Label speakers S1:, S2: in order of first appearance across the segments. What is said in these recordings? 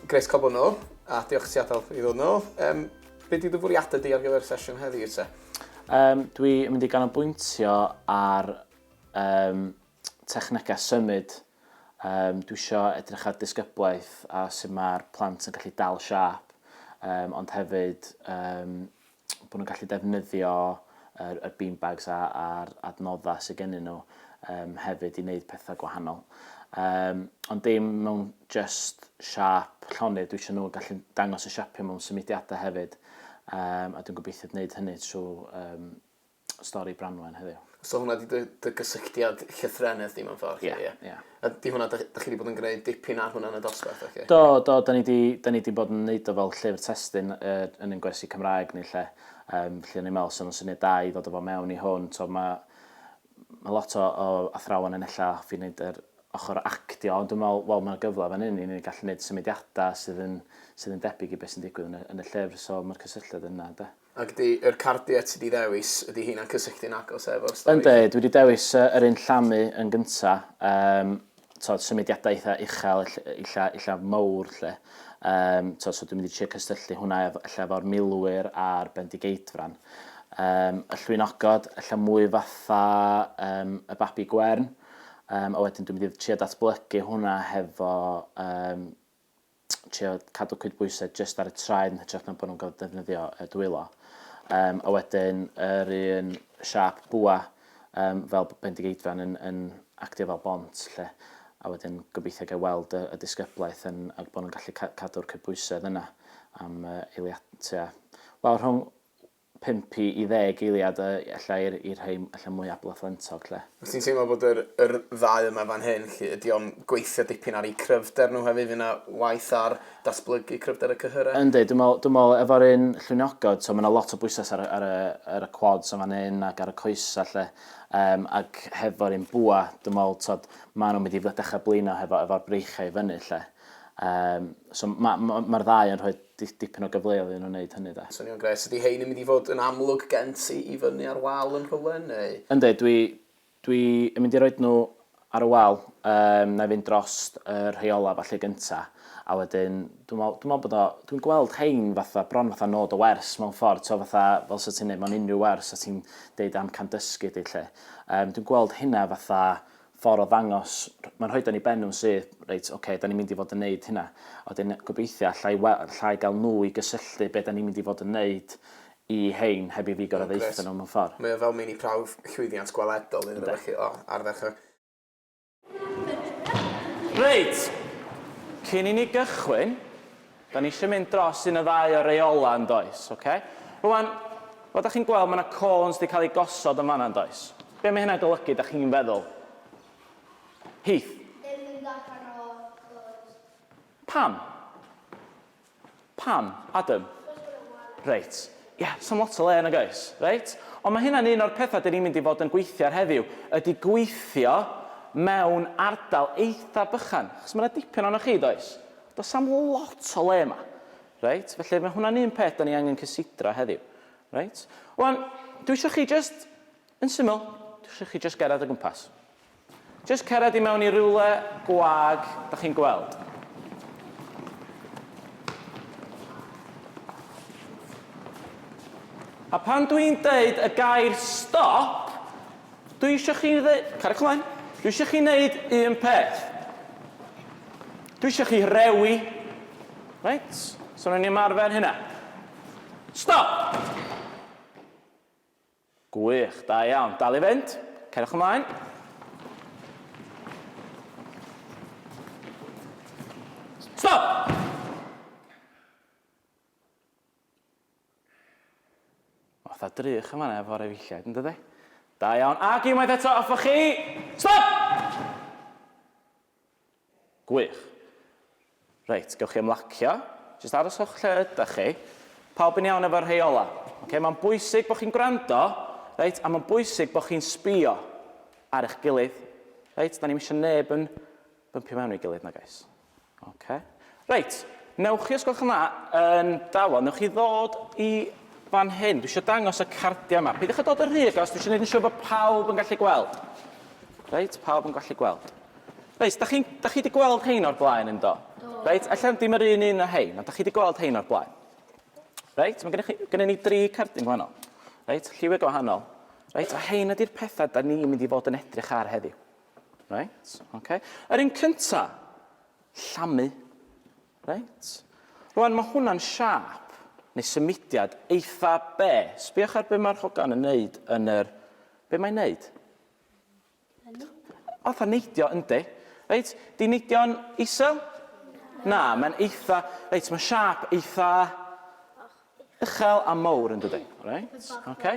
S1: Grace cael bod nhw, a diolch ti adael i ddod nhw. Um, be di dy fwriadau di ar gyfer y sesiwn heddi, te? Um, dwi
S2: yn mynd i ganolbwyntio ar um, technegau symud, yym dwi isio edrych ar disgyblaeth a sut mae'r plant yn gallu dal siâp, um, ond hefyd um, bod nhw'n gallu defnyddio yr, yr beanbags a, a'r adnoddau sydd gennyn nhw um, hefyd i wneud pethau gwahanol. Um, ond dim mewn just siap llonydd, dwi eisiau nhw gallu dangos y siapio mewn symudiadau hefyd, um, a dwi'n gobeithio gwneud hynny trwy um, stori Branwen heddiw. So hwnna di dy, dy
S1: gysylltiad llythrennedd di mewn ffordd? Ie, yeah, ie. Yeah. A di
S2: hwnna, da,
S1: da chi wedi bod yn gwneud dipyn ar hwnna yn y dosbarth, oce? Okay? Do, do, da ni wedi
S2: da ni di bod yn neud o fel llyfr testyn uh, yn ein gwersi Cymraeg ni lle. Um, lle o'n i'n meddwl sy'n syniad da i ddod o fo mewn i hwn. So mae ma lot o, o athrawon yn ella hoffi wneud yr ochr actio, ond dwi'n meddwl, wel, mae'n gyfle fan hyn i ni gallu gwneud symudiadau sydd yn, sydd yn debyg i beth sy'n digwydd yn y, yn y llyfr, so mae'r cysylltiad yna, da. Ac ydy yr cardiau ti
S1: 'di ddewis, ydy heina'n cysylltu'n agos efo'r stori? Yndi, dwi 'di dewis yy
S2: yr un llamu yn gynta', yym t'od symudiadau eitha' uchel ell- ella ella mowr 'lly. Yym t'od so dwi'n mynd i trio cysylltu hwnna ef- ella efo'r milwyr a'r bendigeidfran. Yym y llwynogod ella mwy fatha yym y babi gwern, yym a wedyn dwi'n mynd i trio datblygu hwnna hefo yym trio cadw cydbwysedd jyst ar y traed yn hytrach na bod nhw'n cael defnyddio y dwylo. Um, a wedyn yr un siap bwa um, fel bendigeidfran yn, yn actio fel bont lle. A wedyn gobeithio gael weld y, y disgyblaeth yn, ac bod nhw'n gallu cadw'r cydbwysedd yna am uh, eiliadau. Wel, rhwng 5 i 10 eiliad yy ella i'r i'r rhei ella mwy abla fflentog 'lly. Wyt ti'n teimlo bod
S1: yr yr ddau yma fan hyn 'lly, ydy o'n gweithio dipyn ar eu cryfder nhw hefyd, fydd 'na waith ar datblygu cryfder y cyhyrau? Yndi, dwi'n meddwl dwi'n meddwl
S2: efo'r un llwyniogod, so ma' 'na lot o bwyslais ar y ar y ar y quads yn fan hyn ac ar y coesau 'lly, yym ac hefo'r un bwa, dwi'n meddwl t'od maen nhw'n mynd i dechrau blino hefo efo'r breichiau i fyny 'lly. Yym so ma' ma' ma'r ddau yn rhoi dipyn o gyfleodd iddyn nhw wneud hynny 'de. Swnio'n grêt. Ydy hein yn
S1: mynd i fod yn amlwg gen ti i fyny ar wal yn rhywle neu...? Yndi dwi
S2: dwi yn mynd i roid nhw ar y wal yym nai fynd drost y rhei ola falle gynta a wedyn dwi me'wl dwi me'wl bod o dwi'n gweld hein fatha bron fatha nod o wers mewn ffordd t'o' fatha fel sa ti'n neud mewn unrhyw wers sa ti'n deud amcan dysgu di 'lly yym dwi'n gweld hynna fatha ffordd o ddangos, mae'n rhoid o'n i ben nhw'n syth, reit, ok, da ni'n mynd i fod yn neud hynna. A wedyn gobeithio allai, allai gael nhw i gysylltu beth da ni'n mynd i fod yn neud i hein heb i fi gorau ddeitha nhw mewn ffordd. Mae o fel mini prawf
S1: llwyddiant gweledol iddyn nhw felly, o, ar ddechrau.
S2: Reit, cyn i ni gychwyn, Da ni eisiau mynd dros un o ddau o reolau yn does? Ok. Rwan, fel da chi'n gweld mae yna cones wedi cael eu gosod yn fanna yn does? Be mae hynna'n golygu da chi'n feddwl? Heath? Dim mynd allan o cones. Pam? Pam? Adam? Achos bod o'n wael. Reit. Ie, does na'm lot o le nag oes? Reit. Ond mae hynna'n un o'r pethau da ni'n mynd i fod yn gweithio ar heddiw, ydy gweithio mewn ardal eitha bychan. Achos mae yna dipyn ohonoch chi does? Does am lot o le yma. Reit? Felly mae hwnna'n un peth da ni angen cysidra heddiw. Reit? Wan, dwi eisiau chi just, yn syml, dwi eisiau chi just gerad o gwmpas. Just cerad i mewn i rywle gwag, da chi'n gweld. A pan dwi'n deud y gair stop, Dwi isio chi dd- cariwch ymlaen. Dwi isio chi wneud un peth. Dwi isio chi rewi. Reit, so rhaid ni ymarfer hynna. Stop! Gwych, da iawn. Dal i fynd. Cariwch ymlaen. Stop! Oedd a drych yn fanna efo'r efeilliaid, yn dydi? Da iawn, ac unwaith eto, off â chi! Stop! Gwych. Reit, gewch chi ymlacio. Jyst aroswch lle ydych chi. Pawb yn iawn efo'r rhai ola? Okay, mae'n bwysig bod chi'n gwrando, reit, a mae'n bwysig bod chi'n sbio ar eich gilydd. Reit, da ni'n eisiau neb yn bympio mewn i gilydd na gais. Ok. Reit, newch chi, os gwelwch yn dda, yn dawel, newch chi ddod i fan hyn. Dwi eisiau dangos y cardiau yma. Peidiwch â dod yn rhy agos, dwi eisiau gwneud yn siŵr bod pawb yn gallu gweld. Reit, pawb yn gallu gweld. Reit, da chi, da chi wedi gweld hein o'r blaen yn do? Reit, allan dim yr un un o hein, ond da chi wedi gweld hein o'r blaen. Reit, mae gennych chi, gennym ni dri cardyn gwahanol. Reit, lliwiau gwahanol. Reit, a hein ydy'r pethau da ni'n mynd i fod yn edrych ar heddiw. Reit, oce. Yr un cynta, llamu. Reit. Rwan, mae hwnna'n siap, neu symudiad, eitha be? Sbiwch ar be mae'r hogan yn neud yn yr... Be mae'n neud? Fatha neidio, yndi. Reit, di neidio'n isel? Na, mae'n eitha... Reit, mae'n siap eitha... Uchel a mowr, yn dydy. Reit, oce.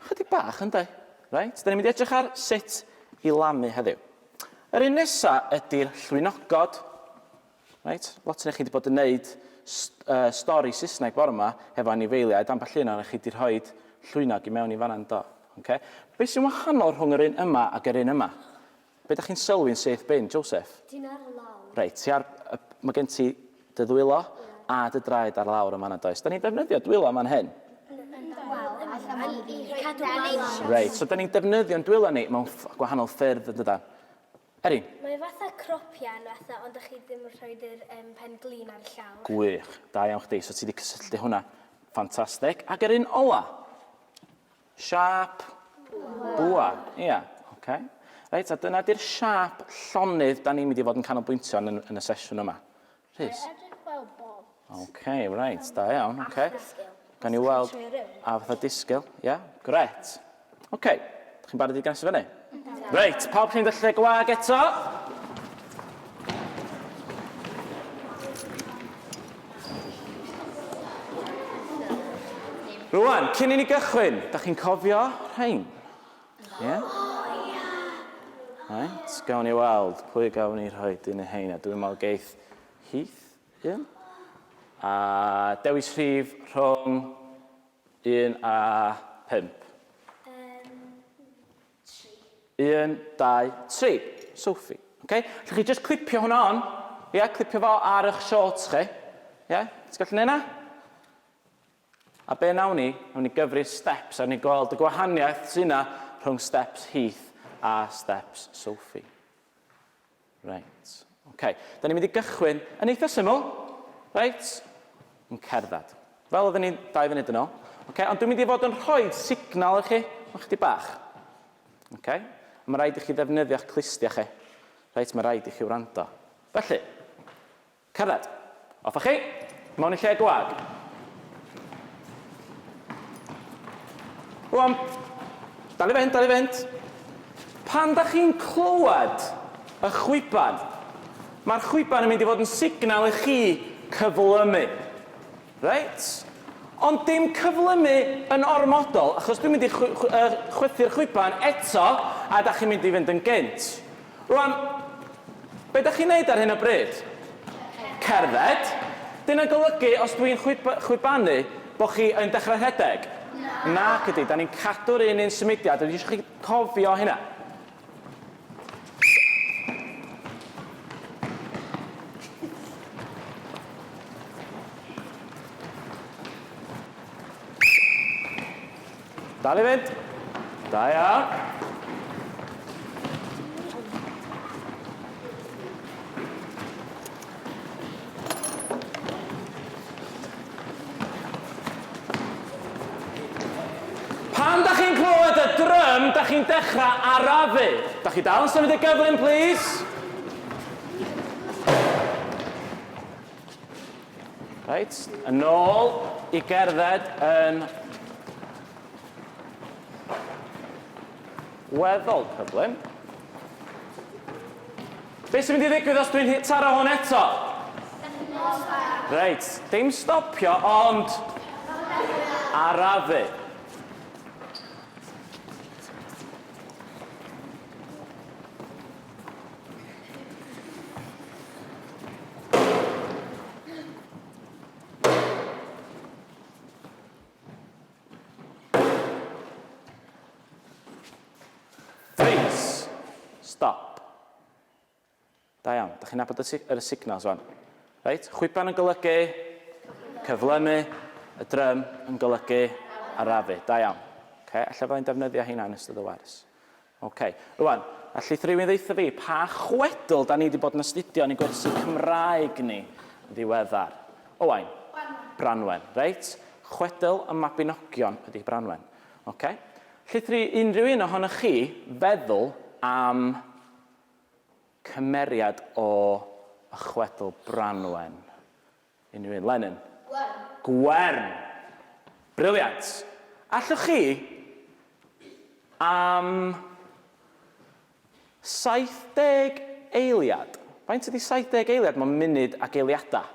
S2: Chydig bach, ynde? Reit, da ni'n mynd i edrych ar sut i lamu heddiw. Yr un nesa ydy'r llwynogod. Reit, lot o'n chi wedi bod yn neud uh, stori Saesneg bore yma hefo anifeiliaid, ambell un o'n chi wedi rhoi llwynog i mewn i fanna'n do. Okay? Be sy'n wahanol rhwng yr un yma ac yr un yma? Be da chi'n sylwi'n syth bin, Joseph? Ti'n ar y lawr. Reit, ti ar... Mae gen ti dy ddwylo a dy draed ar lawr yn fan'na, does? Da ni'n defnyddio dwylo yn fan hyn. Reit, so da ni'n defnyddio'n dwylo ni mewn gwahanol ffyrdd, yn dydan? Erin? Mae fatha
S3: cropian fatha, ond da chi ddim yn rhoi dy pen glin ar y llawr. Gwych, da iawn
S2: chdi. So ti wedi cysylltu hwnna. Ffantastig. Ac yr un ola? Siâp bwa, ia, oce. Reit, a dyna di'r siâp llonydd da ni'n mynd i fod yn canolbwyntio yn, yn y sesiwn yma. Rhys?
S3: Mae'n edrych fel bob. Oce, reit,
S2: da iawn, oce. Gan i weld, a fatha disgyl, ia, gret. Oce, chi'n barod i gynnes i fyny? Reit, pawb chi'n dy lle gwag eto? Rwan, cyn i ni gychwyn, da chi'n cofio rhain? Ie? Yeah? Right, gawn ni weld pwy gawn ni rhoi dyn y hein, a dwi'n meddwl geith Heath un. A dewis rhif rhwng Un a pump. Um, tri. Un, dau, tri. Sophie. Okay? Lle chi just clipio hwnna on. Ie, yeah, clipio fo ar eich shorts chi. Ie? Yeah? Ti'n gallu neud na? A be nawn ni, nawn ni gyfri steps a ni gweld y gwahaniaeth sy'n na rhwng steps Heath a steps Sophie. Reit, ok. Da ni'n mynd i gychwyn yn eitha syml. Reit, yn cerdded. Fel oedden ni dau funud yn ôl. Ok, ond dwi'n mynd i fod yn rhoi signal i chi, mae'n chdi bach. Ok, mae rhaid i chi ddefnyddio'ch clustia chi. Reit, mae rhaid i chi wrando. Felly, Cerdded. Off â chi. Mewn i lle gwag. Rwan. Dal i fynd, dal i fynd. Pan da chi'n clywed y chwiban, mae'r chwiban yn mynd i fod yn signal i chi cyflymu. Reit? Ond dim cyflymu yn ormodol, achos dwi'n mynd i chwythu'r chwiban eto a da chi'n mynd i fynd yn gynt. Rwan, be dach chi'n neud ar hyn o bryd? Cerdded? Dyna golygu os dwi'n chwibanu bo chi yn dechrau rhedeg? Nac ydi, da ni'n cadw'r un un symudiad, dwi eisiau chi cofio hynna. Dal i fynd. Da iawn. Pan da chi'n clywed y drym, da chi'n dechrau arafu. Da chi dal yn symud y gyflym, please? Reit, yn ôl i gerdded yn weddol cyflym. Be sy'n mynd i ddigwydd os dwi'n taro hwn eto? Reit, dim stopio ond arafu. chi'n nabod yr signals o'n. Reit, chwiban yn golygu cyflymu, y drym yn golygu arafu. Da iawn. Okay, allai fydda'n defnyddio hynna yn ystod y wers. Ok. Rwan, allith rywun ddeutha fi pa chwedl da ni wedi bod yn astudio yn y gwersi Cymraeg ni yn ddiweddar? Owain? Branwen. Branwen. Reit. Chwedl y Mabinogion ydi Branwen. Ok. Allith unrhyw un ohonoch chi feddwl am cymeriad o y chwedl Branwen? Unrhyw un. Lenin. Gwern. Gwern! Briliant! Allwch chi, am 70 eiliad, faint ydi 70 eiliad mewn munud ac eiliadau?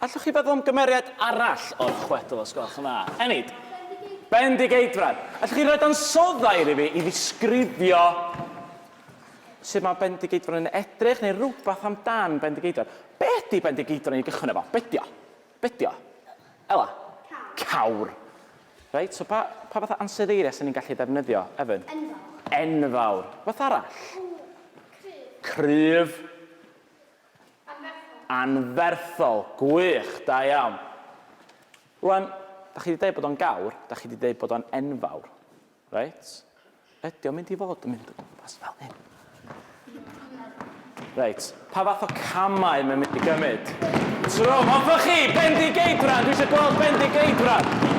S2: Allwch chi feddwl am gymeriad arall o'r chwedl os gwelwch yn dda? Enid. Bendigeidfran. Allwch chi roed ansoddair i fi i ddisgrifio sut mae Bendigeidfran yn edrych neu rhywbeth amdan Bendigeidfran? Be ydy Bendigeidfran i gychwyn efo? Be ydy o? Be ydy o? Ela? Cawr. Reit, so pa, pa fath o ansoddeiriau sy'n ni'n gallu defnyddio, Evan? Enfawr. Enfawr. Beth arall? Cryf. Cryf. Anferthol. Anferthol! Gwych! Da iawn. Rwan, da chi 'di deud bod o'n gawr, da chi 'di deud bod o'n enfawr. Reit? Ydy o'n mynd i fod yn mynd o gwmpas fel hyn? Reit, pa fath o camau mae'n mynd i gymryd? Trwm, hoffech chi? Bendigeidfran! Dwi eisiau gweld Bendigeidfran!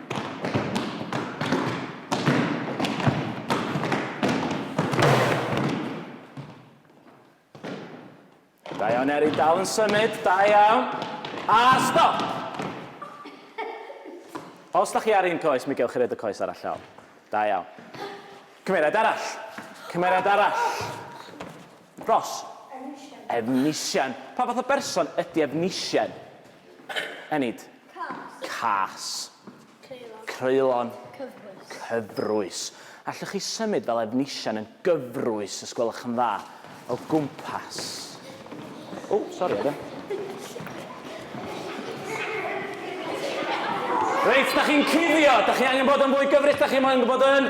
S2: Da iawn Erin, dal yn symud, da iawn. A stop! Os da chi ar un coes, mi gewch chi roed y coes arall lawr. Da iawn. Cymeriad arall. Cymeriad arall. Ros. Efnisien. Pa fath o berson ydy Efnisien? Enid. Cas. Cas. Creulon. Creulon. Cyfrwys. Cyfrwys. Allwch chi symud fel Efnisien yn gyfrwys, os gwelwch yn dda, o gwmpas. O, sori, Adam. Reit, da chi'n cuddio. Da chi angen bod yn fwy gyfrus, da chi moyn gwybod yn...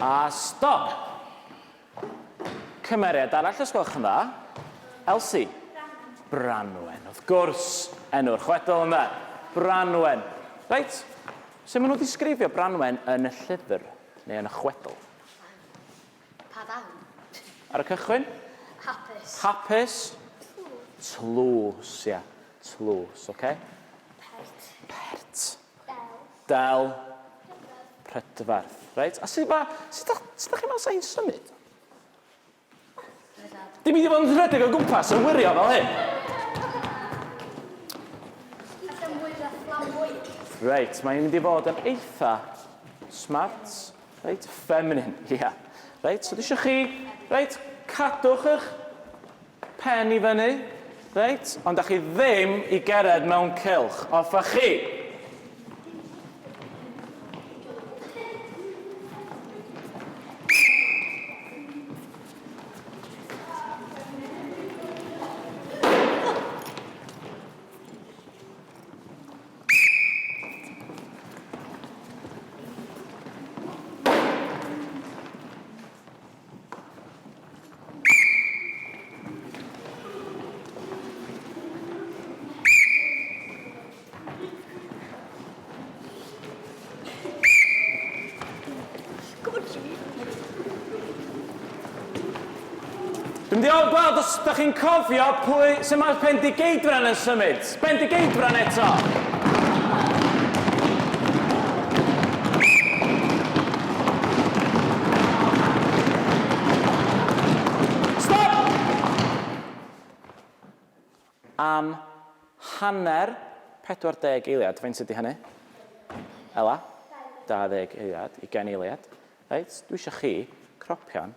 S2: A stop! Cymeriad arall os gwelwch yn dda. Elsie. Branwen, wrth gwrs, enw'r chwedl yma. Branwen. Reit, sut maen nhw'n disgrifio Branwen yn y llyfr, neu yn y chwedl?
S3: Pa ddawn? Ar y
S2: cychwyn? Hapus. Hapus. Tlws, ia. Tlws, oce. Pert. Pert. Del. Del. Prydferth. Reit, a sut ma... Sut da, sut da chi'n meddwl sa'n symud? Dim i di fod yn rhedeg o gwmpas yn wirio fel hyn. Reit, mae'n mynd i fod yn eitha smart. Reit, feminine, ia. Yeah. Reit, so dwi eisiau chi, reit, cadwch eich Pen i fyny. Reit, ond da chi ddim i gered mewn cylch. Off a chi! Dwi'n diolch gweld os da chi'n cofio pwy sy'n mae'r Pendigeidfran yn symud. Bendigeidfran eto! Stop! Am hanner 40 eiliad. Faint ydy hynny? Ela? 20 eiliad, 20 eiliad. Reit, dwi eisiau chi cropio'n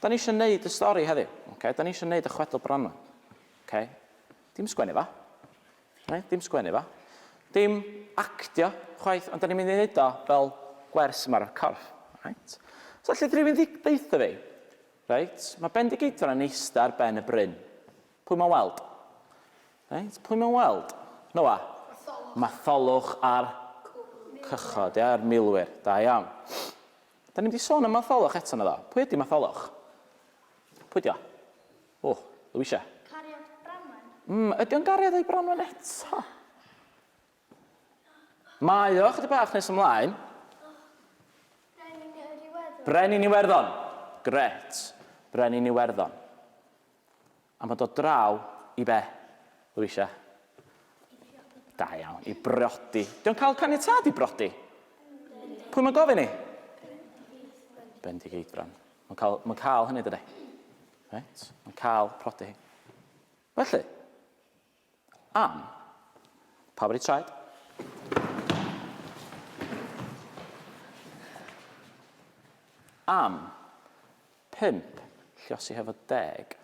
S2: Da ni isio neud y stori heddi, oce? Da ni isio neud y chwedl bron 'ma. Oce? Dim sgwennu fo. Reit? Dim sgwennu fo. Dim actio chwaith, ond da ni'n mynd i neud o fel gwers yma ar y corff. Reit? So lle rhywun ddi- deutha fi, reit, mae Bendigeidfran yn eista ar ben y bryn. Pwy mae'n weld? Reit? Pwy mae'n weld? Noa? Matholwch a'r cychod, ia, a'r milwyr. Da iawn. Da ni'n mynd i sôn am Matholwch eto, medda. Pwy ydi Matholwch? Pwy dio? O, Louisa. Cariad Branwen.
S3: Mm, ydi o'n gariad ei
S2: Branwen eto? Mae o, chydig bach nes ymlaen.
S3: Brenin yr Iwerddon.
S2: Brenin Iwerddon. Gret. Brenin Iwerddon. Am dod draw i be? Louisa. Da iawn, i briodi. Dio'n cael caniatâd i briodi? Pwy mae'n gofyn i? Bendigeidfran. Mae'n cael, mae'n cael hynny dydy. Reit, mae'n cael prodi. Felly, Am. Pawb wedi traed? Am. Pump. Lliosi hefo deg.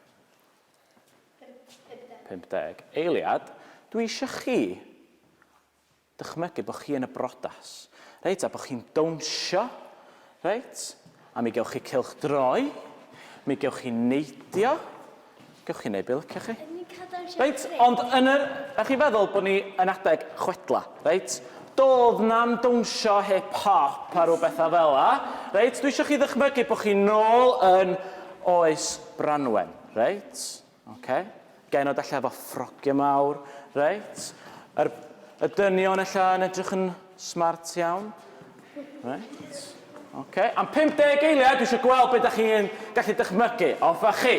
S2: 50. 50. Eiliad, dwi eisiau chi Dychmygu bod chi yn y brodas, reit, a bod chi'n dawnsio, reit, a mi gewch chi cylch droi, mi gewch chi neidio, gewch chi wneud be liciwch chi. Reit, ond yn yr... Da chi'n feddwl bod ni yn adeg chwedla, reit? Doedd na'm dawnsio hip hop a rhyw bethau fel la, reit? Dwi eisiau chi ddychmygu bod chi nôl yn oes Branwen, reit? Oce. Genod allan efo ffrogiau mawr. Reit. Yr, y dynion allan yn edrych yn smart iawn. Reit. Oce. Am 50 eiliad, dwi eisiau gweld beth ydych chi'n gallu dychmygu. Off a chi.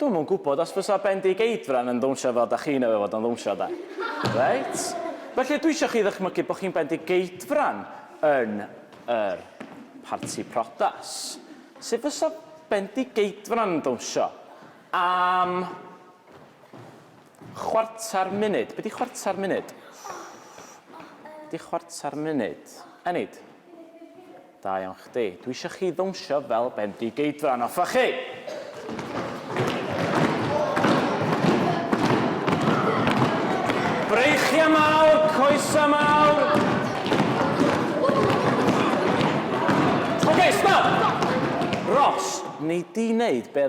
S2: Dwi'm yn gwybod os fysa Bendigeidfran yn ddawnsio fel dach chi'n ei fod yn ddawnsio de. Reit? Felly dwi isio chi ddychmygu bod chi'n Bendigeidfran yn yr parti prodas. Sut fysa Bendigeidfran yn dawnsio? Am chwarter munud. Be di chwarter munud? Be di chwarter munud? Enid? Da iawn chdi. Dwi eisiau chi ddawnsio fel bendigeidfran. Offa chi! Breichiau mawr, coesau mawr. Oce, stop! Ros, nei di wneud be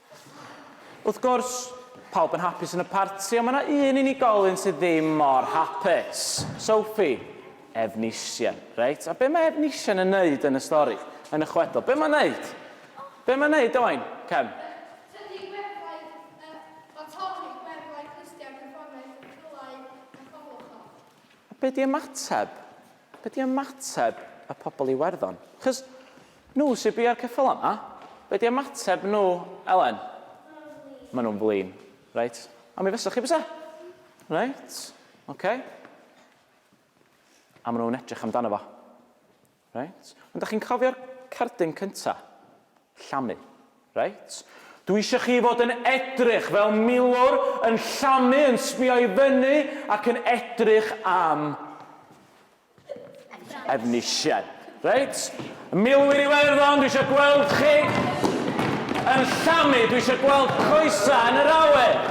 S2: Wrth gwrs, pawb yn hapus yn y parti ond mae yna un unigolyn sydd ddim mor hapus. Sophie. Efnisien. Reit, a be mae Efnisien yn neud yn y stori? Yn y chwedl. Be mae'n neud? Be mae'n neud, Owain? Cem. Tydi gweddau, yy, o torri
S4: gweddau clustiau cyfforddus yn Rhulai a Chwblwch o. A be di
S2: ymateb? Be di ymateb y pobl i Iwerddon? Chos nhw sydd bia'r ceffyl yma, be di ymateb nhw, Elen? Maen nhw'n flin. Reit. A mi fysa chi bysa? Reit. Oce. A maen nhw'n edrych amdano fo. Reit. Ond da chi'n cofio'r cerdyn cynta? Llamu. Reit. Dw i eisiau chi fod yn edrych fel milwr yn llamu yn sbio i fyny ac yn edrych am Efnisien. Reit. Y milwyr Iwerddon, dwi eisiau gweld chi yn llamu, dwi eisiau gweld coesau yn yr awen.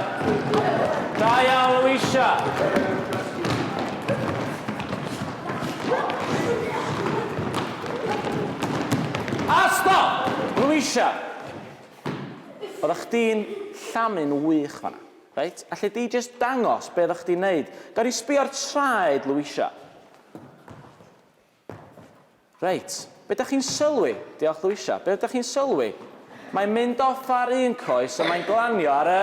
S2: Da iawn, Louisa. A stop! Louisa! Oeddach chdi'n llamu'n wych fanna. Reit, alli di jyst dangos be oeddach chdi'n neud? Gawn ni sbio'r traed, Louisa? Reit, be dach chi'n sylwi? Diolch, Louisa. Be ydach chi'n sylwi? Mae'n mynd off ar un coes a mae'n glanio ar y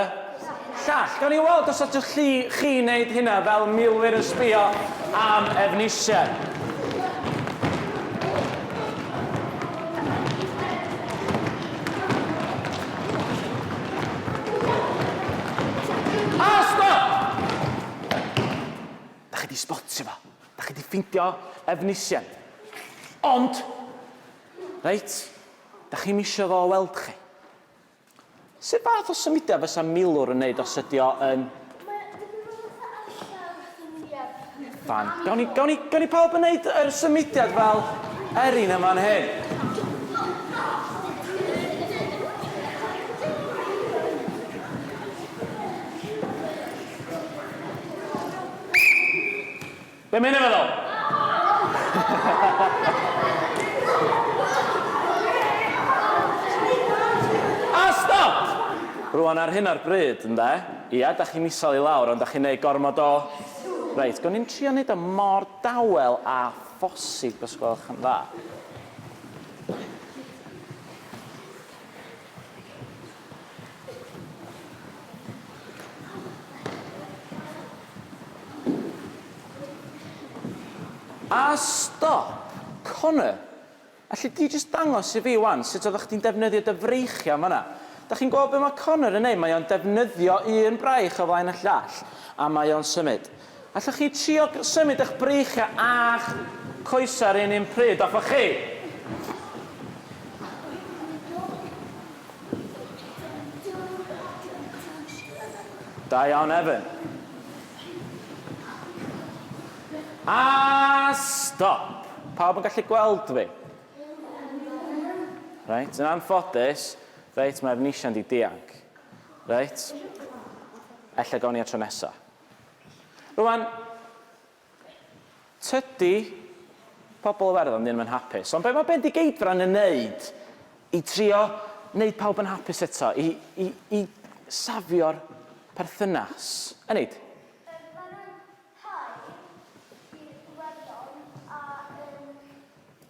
S2: llall. Gawn ni weld os allwch chi chi wneud hynna fel milwyr yn sbio am Efnisien. A stop! Da chi di spotio fo. Da chi di ffeindio Efnisien. Ond, reit, Dach chi'm isio fo weld chi? Sut fath o symudiad fysa milwr yn neud os ydi o yn... Mae dipyn bach o tawel symudiad. Fine. Gawn ni, gawn ni, gawn ni pawb yn neud yr symudiad fel Erin yn fan hyn? Be mae hyn yn feddwl? A stop! Rwan ar hyn o'r bryd, ynde? Ia, da chi'n isel i lawr, ond da chi'n neud gormod o... Reit, gawn ni'n trio neud o mor dawel a phosib os gwelwch yn dda. A stop! Connor! Alli di jyst dangos i fi 'wan sut oeddach chdi'n defnyddio dy freichiau yn fan'na? Dach chi'n gweld be mae Connor yn neud? Mae o'n defnyddio un braich o flaen y llall, a mae o'n symud. Allwch chi trio symud eich breichiau a'ch coesau yr un un pryd â chi? Da iawn Evan. A stop! Pawb yn gallu gweld fi? Reit, yn anffodus, reit, mae Efnisia'n di dianc. Reit, ella gawn ni at tro nesaf. Rwan, tydi pobl Iwerddon ddim yn hapus, ond be' mae Bendigeidfran yn neud i trio neud pawb yn hapus eto, i, i, i safio'r perthynas? Enid? Yym, mae rhai i'r Iwerddon a yn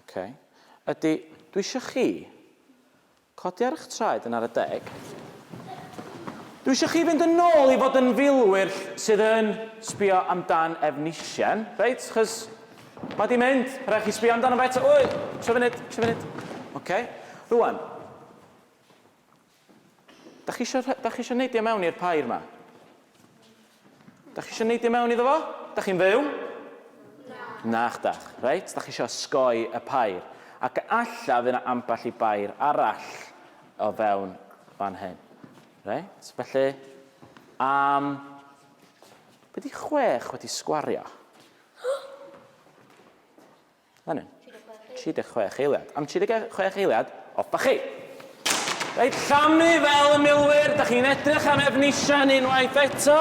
S2: Ok. Ydy, dwi eisiau chi codi ar eich traed yn ar y deg. Dwi eisiau chi fynd yn ôl i fod yn filwyr sydd yn sbio amdan Efnisien, reit? Chys mae di mynd, rhaid chi sbio amdano fe eto. Wy, tro funud, tro funud. Ok. Rwan, Dach chi isio rhe- dach chi isio neidio mewn i'r pair 'ma? Dach chi isio neidio mewn iddo fo? Dach chi'n fyw? Na. Nach dach. Reit, dach chi isio osgoi y pair. Ac alla fydd 'na ambell i bair arall o fewn fan hyn. Reit, felly am be' 'di chwech wedi sgwario? Fan hyn. 36 eiliad. Am 36 eiliad, off ba chi! Reit, llamu fel y milwyr, da chi'n edrych am Efnisien unwaith eto.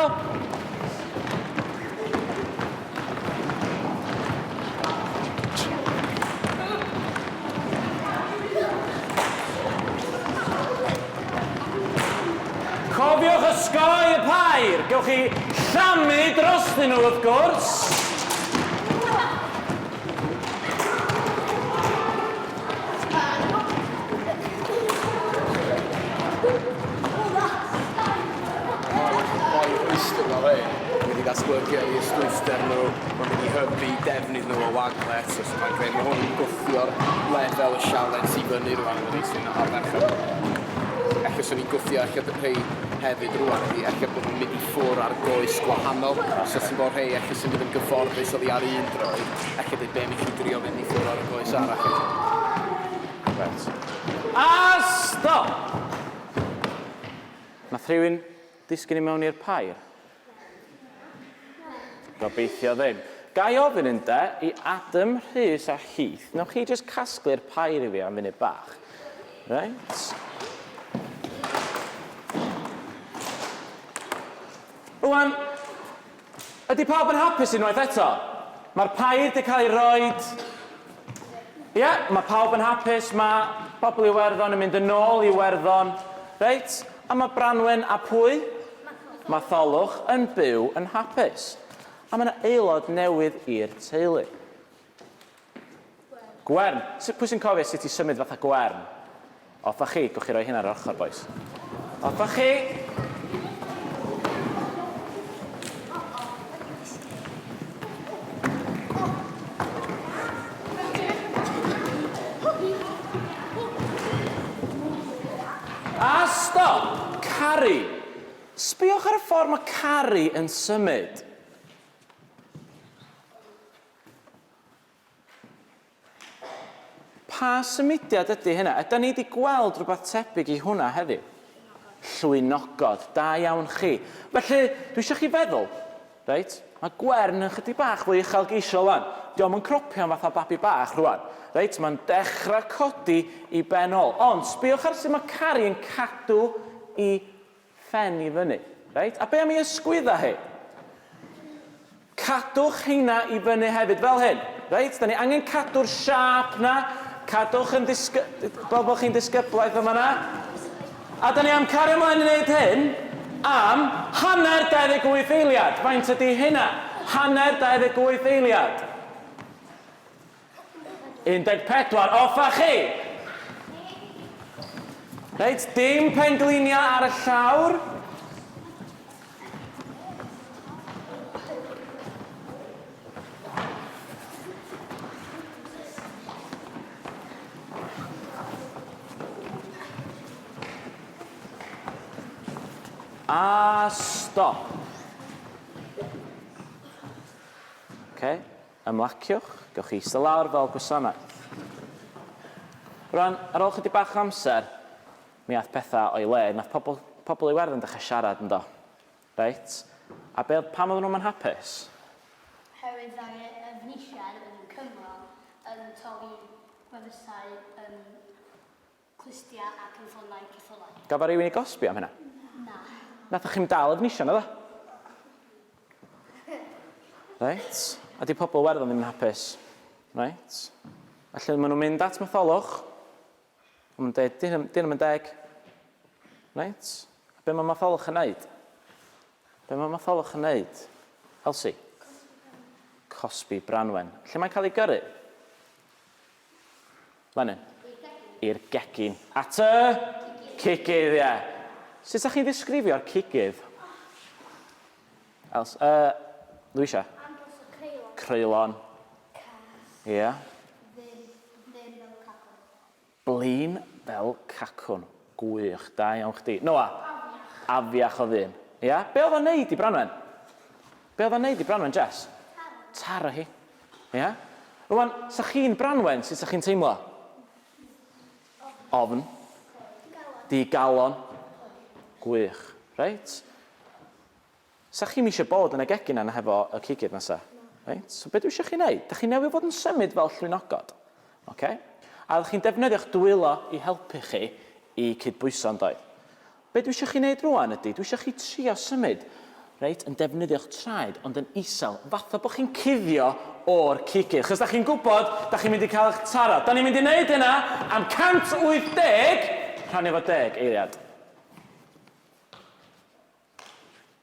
S2: Cofiwch osgoi y pair, gewch chi llamu drostyn nhw
S1: wrth gwrs. gwthio'r lefel y sialens i fyny rwan yn y reis hwn ar ferched. Ella swn i'n gwthio ella y rhei hefyd rwan ydi ella bod nhw'n mynd i ffwr ar goes gwahanol. Os oes yn bod rhei ella sy'n mynd yn gyfforddus oddi ar un droed, ella dweud be mi chi drio mynd i ffwr ar y goes arall eto. Right.
S2: A stop! Nath rhywun disgyn i mewn i'r pair? Gobeithio ddim. Gai ofyn ynde, i Adam, Rhys a Heath, wnewch chi jyst casglu'r pair i fi am funud bach? Reit. Rwan, ydy pawb yn hapus unwaith eto? Mae'r pair 'di cael ei roed. Ie, mae pawb yn hapus, mae pobl Iwerddon yn mynd yn ôl i Iwerddon. Reit. A mae Branwen a pwy? Matholwch yn byw yn hapus. A mae 'na aelod newydd i'r teulu. Gwern. Sut, pwy sy'n cofio sut i symud fatha gwern? Off â chi, gwych chi roi hyn ar yr ochr bois. Off â chi! A stop! Cari! Sbïwch ar y ffordd mae Cari yn symud. Pa symudiad ydy hynna? Ydan ni 'di gweld rhywbeth tebyg i hwnna heddiw? Llwynogod, da iawn chi. Felly, dwi eisiau chi feddwl, reit, mae Gwern yn chydig bach fwy uchelgeisiol rwan. Diom yn cropio'n fatha babi bach rwan. Reit, mae'n dechrau codi i ben ôl. Ond, sbiwch ar sut mae Cari yn cadw i phen i fyny. Reit, a be am ei ysgwydda hi? Cadwch heina i fyny hefyd, fel hyn. Reit, da ni angen cadw'r siâp na. Cadwch yn disgy... fel bod chi'n disgyblaeth yma na. A da ni am cario ymlaen i wneud hyn am hanner 28 eiliad. Faint ydy hynna? Hanner 28 eiliad. 14 off a chi! Reit, dim pengliniau ar y llawr. A stop. Okay. Ymlaciwch, gewch chi eistedd lawr fel gwasanaeth. Rwan, ar ôl chydig bach o amser, mi ath pethau o'i le, nath pobl, pobl Iwerddon dechrau siarad yndo. Reit, a be, pam oedden nhw'm yn hapus? Oherwydd
S5: mae Efnisien yn Cymro yn torri gwefusau yn Clustiau ac yn ffonau ceffylau. Gafodd rhywun ei gosbi am
S2: hynna? Na.
S5: Nathoch chi'm dal
S2: Efnisien, naddo? Reit. A 'di pobl Iwerddon ddim yn hapus? Reit. Felly maen nhw'n mynd at Matholwch. Maen nhw'n dweud, 'di hyn ddim yn deg. Reit. A be mae Matholwch yn neud? Be mae Matholwch yn neud? Elsie? Cosbi Branwen. Lle mae'n cael ei gyrru? Fan hyn. I'r gegin. At y cigydd, ie. Sut 'sa chi'n ddisgrifio'r cigydd? Els, yy, Louisa? Angles o creulon. Creulon. Cas. Ie. Blin, blin fel cacwn. Blin fel cacwn. Gwych, da iawn chdi. Noah? Afiach. Afiach o ddyn. Ia? Be' odd o'n neud i Branwen? Be oedd o'n neud i Branwen Jess? Taro. Taro hi. Ia? Rwan, sa chi'n Branwen, sut sa chi'n teimlo? Ofn. Digalon. Gwych. Reit? Sa chi'm eisiau bod yn y gegin yna hefo y cigydd nesa? Reit? So be dwi eisiau chi wneud? Da chi'n newid fod yn symud fel llwynogod. Okay? A ydych chi'n defnyddio'ch dwylo i helpu chi i cydbwyso yn doedd? Be dwi isio chi neud rŵan ydi, dwi isio chi trio symud, reit, yn defnyddio'ch traed ond yn isel, fatha bo chi'n cuddio o'r cigydd, achos 'da chi'n gwbod 'da chi'n mynd i cael 'ych taro. 'Da ni'n mynd i neud hynna am 180, rhannu fo deg eiliad.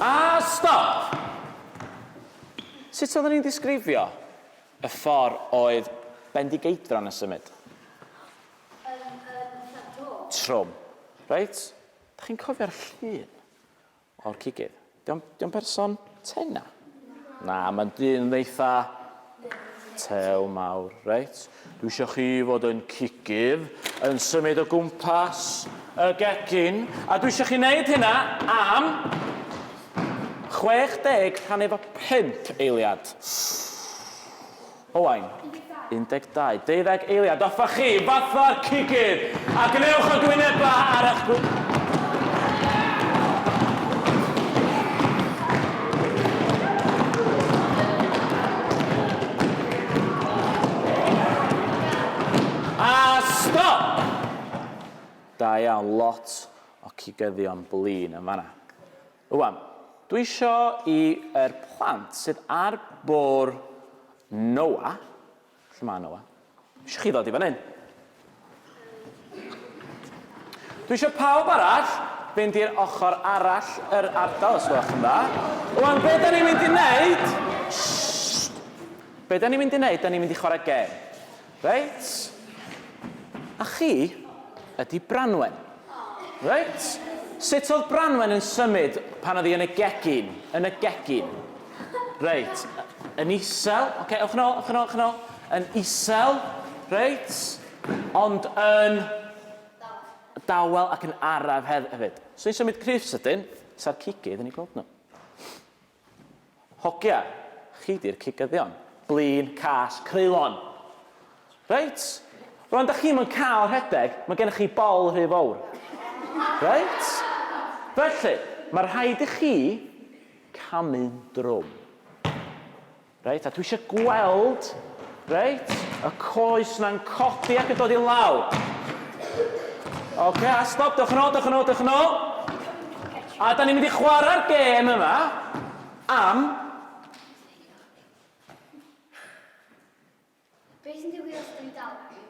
S2: A stop! Sut oedden ni'n disgrifio y ffordd oedd Bendigeidfran yn symud? Yn trwm. Trwm. Reit. Dach chi'n cofio'r llun o'r cigydd? 'Di o'n 'di o'n berson tena? Na, mae'n dyn eitha tew mawr. Reit, dwi isio chi fod yn cigydd, yn symud o gwmpas y gegin, a dwi isio chi wneud hynna am 60 rhan efo 5 eiliad. Owain, 12. Deuddeg eiliad, offa chi, fatha'r cigydd, a gwnewch y gwynebau ar eich gw... A stop! Da iawn, lot o cigyddion blin yn fan'na. Rwan, dwi isio i yr plant sydd ar bwr Noah, lle mae Noah? Isio chi ddod i fan hyn. Dwi isio pawb arall fynd i'r ochr arall yr ardal os gwelwch yn dda. Rwan, be da ni'n mynd i wneud? Shhh! Be da ni'n mynd i wneud? Da ni'n mynd i chwarae gêm. Reit. A chi ydi Branwen. Reit. Sut oedd Branwen yn symud pan oedd hi yn y gegin? Yn y gegin. Reit. Yn isel. Ocê, ewch yn ôl, ewch yn ôl, ewch yn ôl. Yn isel. Reit. Ond yn... Dawel. Dawel ac yn araf hefyd. So ni'n symud cryf sydyn, sa'r cigydd yn eu gweld nhw. Hogia, chi 'di'r cigyddion. Blin, cas, creulon! Reit? Rwan dach chi'm yn cael rhedeg, mae gennych chi bol rhy fowr. Reit? Felly, mae rhaid i chi camu'n drwm. Reit, a dwi eisiau gweld, reit, y coes na'n codi ac yn dod i law. Oce, a stop, dewch yn ôl, dewch yn ôl, dewch yn ôl. A da ni'n mynd i chwarae'r gêm yma am
S5: Be sy'n digwydd os ydw i dal mewn?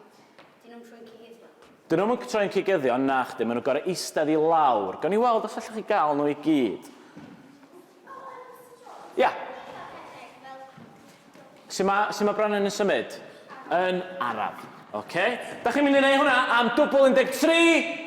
S5: Dyn nhw'm troi'n cigyddion. Dyn nhw'm
S2: yn troi'n cigyddion, nachdyn, maen nhw'n gorau eistedd i lawr. Gawn ni weld os allwch chi gael nhw i gyd. Ia. Sut mae, sut mae Brannan yn symud? Yn araf. Oce. Da chi'n mynd i wneud hwnna am dwbl 13.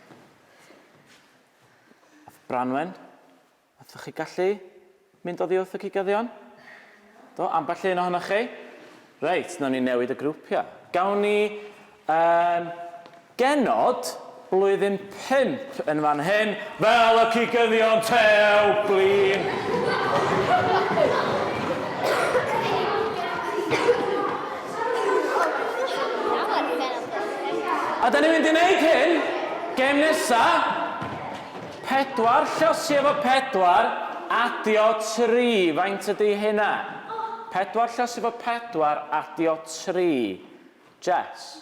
S2: Branwen, ydych chi gallu mynd oddi wrth y cigyddion? Do, ambell un ohonoch chi? Reit, nawn ni newid y grwpiau. Gawn ni um, genod blwyddyn pimp yn fan hyn, fel y cigyddion tew, blin. A da ni'n mynd i wneud hyn, gem nesa, pedwar llosi efo pedwar, adio tri, faint ydy hynna? Pedwar llosi efo pedwar, adio tri. Jess?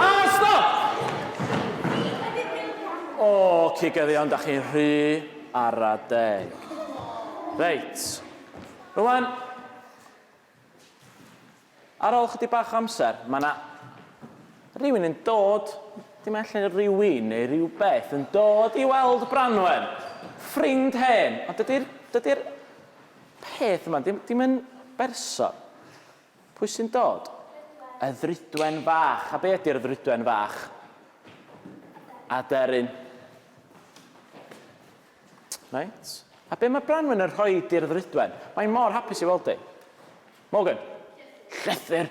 S2: A stop! O, cigyddion, da chi'n rhy ara deg. Reit. Rwan, ar ôl chydig bach o amser, mae yna rhywun yn dod, dim allan rhywun neu rhywbeth, yn dod i weld Branwen, ffrind hen, ond dydy'r dydy peth yma, dim, dim yn berson. Pwy sy'n dod? Y ddrudwen fach. A be ydy'r ddrudwen fach? Aderyn. Reit. A be mae Branwen yn rhoi i'r ddrudwen? Mae mor hapus i weld di. Morgan. Llythyr.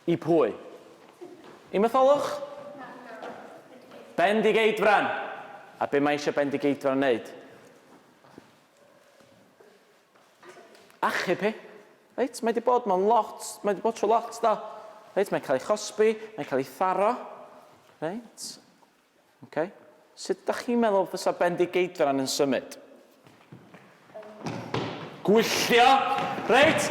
S2: I pwy? I Matholwch? Bendigeidfran. A be mae eisiau Bendigeidfran wneud? achub hi. Reit, mae 'di bod mewn lot, mae 'di bod trwy lot do. Reit, mae'n cael ei chosbi, mae'n cael ei tharo. Reit. Okay. Sut da chi'n meddwl fysa Bendigeidfran yn symud? Gwylltio! Reit!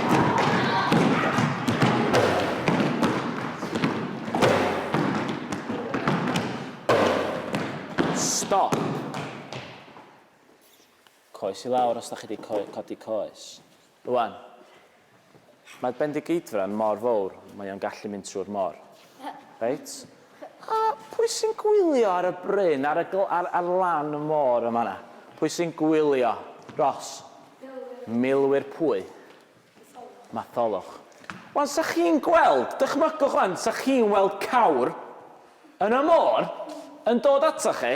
S2: Stop. Coes i lawr os da chi wedi co codi coes. Rwan. Mae'r Bendigeidfran mor fowr, mae o'n gallu mynd trwy'r mor. Reit? A pwy sy'n gwylio ar y bryn, ar y gl- ar, ar lan y môr yn fan 'na? Pwy sy'n gwylio? Ros? Milwyr pwy? Matholwch. Wan, 'sa chi'n gweld, dychmygwch wan, 'sa chi'n weld cawr yn y môr yn dod atoch chi,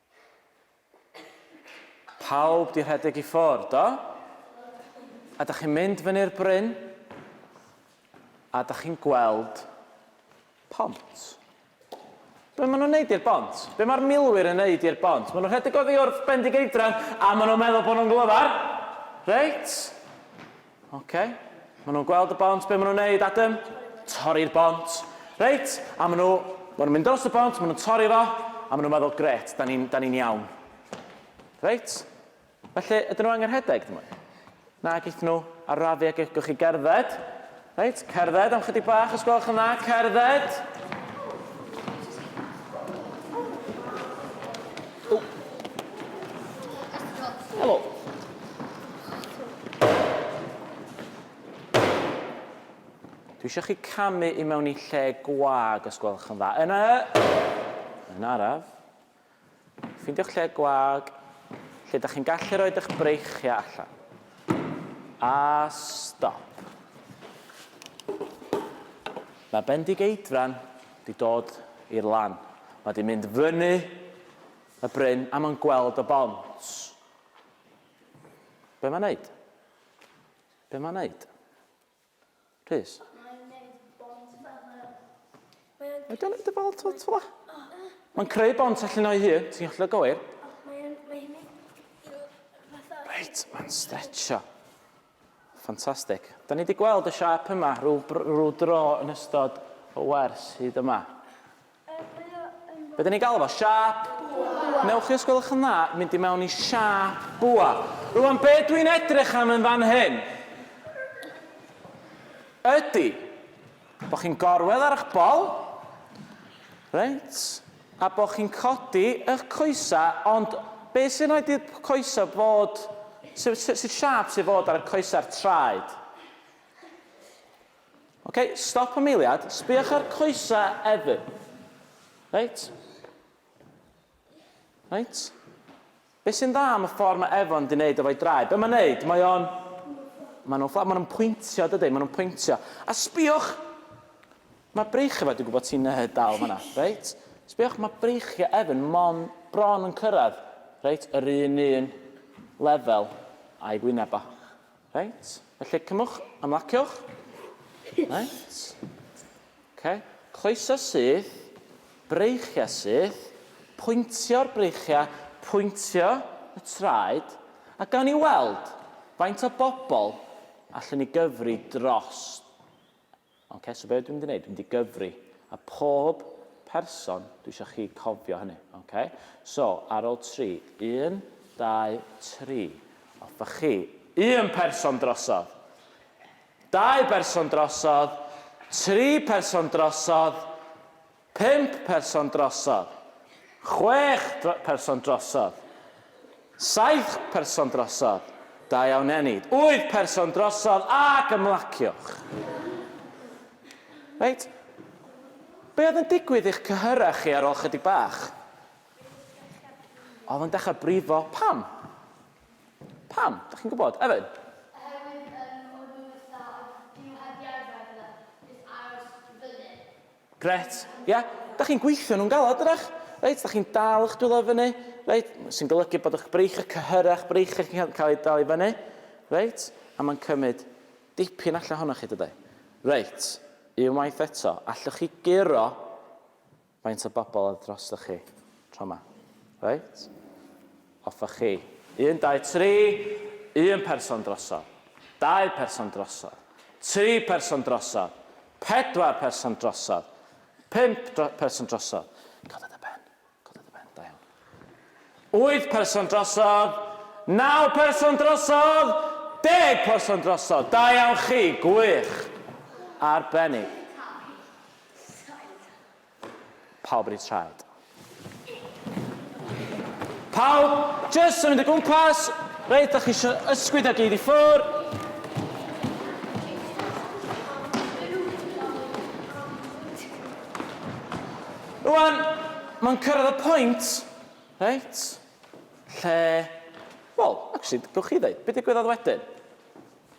S2: Pawb di rhedeg i ffwrdd, do? A da chi'n mynd fyny'r bryn, a da chi'n gweld pont. Be maen nhw'n neud i'r bont? Be mae'r milwyr yn neud i'r bont? Maen nhw'n rhedeg oddi wrth Bendigeidfran a maen nhw'n meddwl bod nhw'n glyfar. Reit? Oce. Maen nhw'n gweld y bont. Be maen nhw'n neud, Adam? Torri'r bont. Reit, a maen nhw... Maen nhw'n mynd dros y bont, maen nhw'n torri fo, a maen nhw'n meddwl, gret, da ni'n ni iawn. Reit? Felly, ydyn nhw angen rhedeg, dyn nhw? Na, geith nhw arafu ac eich chi gerdded. Reit, cerdded am chydig bach, os gwelwch yn dda, cerdded. Dwi eisiau chi camu i mewn i lle gwag os gwelwch yn dda. Yna, yn araf, ffeindio'ch lle gwag, lle da chi'n gallu rhoi eich breichiau allan. A stop. Mae Bendigeidfran di dod i'r lan. Mae di mynd fyny y bryn a mae'n gweld y bont. Be mae'n neud? Be mae'n neud? Rhys? Mae'n neud bont fel... Mae'n neud y bont fel tla? Mae'n creu bont allan o'i hun, ti'n gallu gywir?
S3: Mae'n... Mae'n...
S2: Reit, mae'n stretcho. Ffantastig. Da ni wedi gweld y siâp yma rhyw, rhyw dro yn ystod y wers hyd yma. Be da ni'n galw fo? Siâp? Bwa. Newch chi, os gwelwch yn dda, mynd i mewn i siâp bwa. Rwan, be dwi'n edrych am yn fan hyn ydy Bo chi'n gorwedd ar ych bol, reit, a bo chi'n codi ych coesa, ond be sy'n rhaid i'r coesa fod, sut sy, sy siâp sy'n fod ar y coesa'r traed? Ok, stop am eiliad, sbïwch ar coesa Evan. Reit? Reit? Be sy'n dda am y ffordd mae Efo'n di neud efo'i draed? Be mae'n neud? Mae o'n... Mae nhw'n ffla- mae nhw'n pwyntio dydi? Mae nhw'n pwyntio. A sbïwch! Mae breichiau Efo'n dwi'n gwybod ti'n yy dal fan'na, reit? Sbïwch, mae breichiau Efo'n mon bron yn cyrraedd, reit, yr un un lefel â'i wyneb o. Reit, felly cymwch, ymlaciwch. Reit. OK. Cloeso syth, breichiau syth, pwyntio'r breichiau, pwyntio y traed, a gawn ni weld faint o bobl allwn ni gyfri dros Ond ces be dwi'n mynd i wneud, dwi'n mynd i gyfri. A pob person, dwi eisiau chi cofio hynny. Ok? So, ar ôl tri. Un, dau, tri. Offa chi. Un person drosodd. Dau berson drosodd. Tri person drosodd. Pump person drosodd. Chwech person drosodd. Saith person drosodd. Da iawn Enid. Wyth person drosodd ac ymlaciwch. Reit. Be oedd yn digwydd i'ch cyhyrau chi ar ôl chydig bach? Oedd yn dechrau brifo. Pam? Pam? Da chi'n gwybod? Evan? Oherwydd um, o'n nhw'n ystaf, dyn nhw heb di arfer gyda, just aros fyny. Gret, ia? Dach chi'n gweithio nhw'n galed, dydach? Reit, dach chi'n dal eich dwylo i fyny, reit, sy'n golygu bod eich breichiau, eich cyhyrau, eich breichiau chi'n cael, cael eu dal i fyny, reit, a mae'n cymryd dipyn allan ohonoch chi, dydy? Reit, unwaith eto, allwch chi guro faint o bobl oedd drostoch chi tro yma? Reit? Hoffech chi. Un, dau, tri, un person drosodd, dau person drosodd, tri person drosodd, pedwar person drosodd, pump dro person drosodd. Coda dy ben. Coda dy ben. Da iawn. Wyth person drosodd, naw person drosodd, deg person drosodd. Da iawn chi. Gwych. Arbennig. Pawb yn eu traed. Pawb, jyst yn mynd o gwmpas. Reit, da chi eisiau ysgwyd a gyd i ffwr. Rwan, mae'n cyrraedd y pwynt, reit, lle... Wel, actually, gwych chi ddeud, beth digwyddodd wedyn?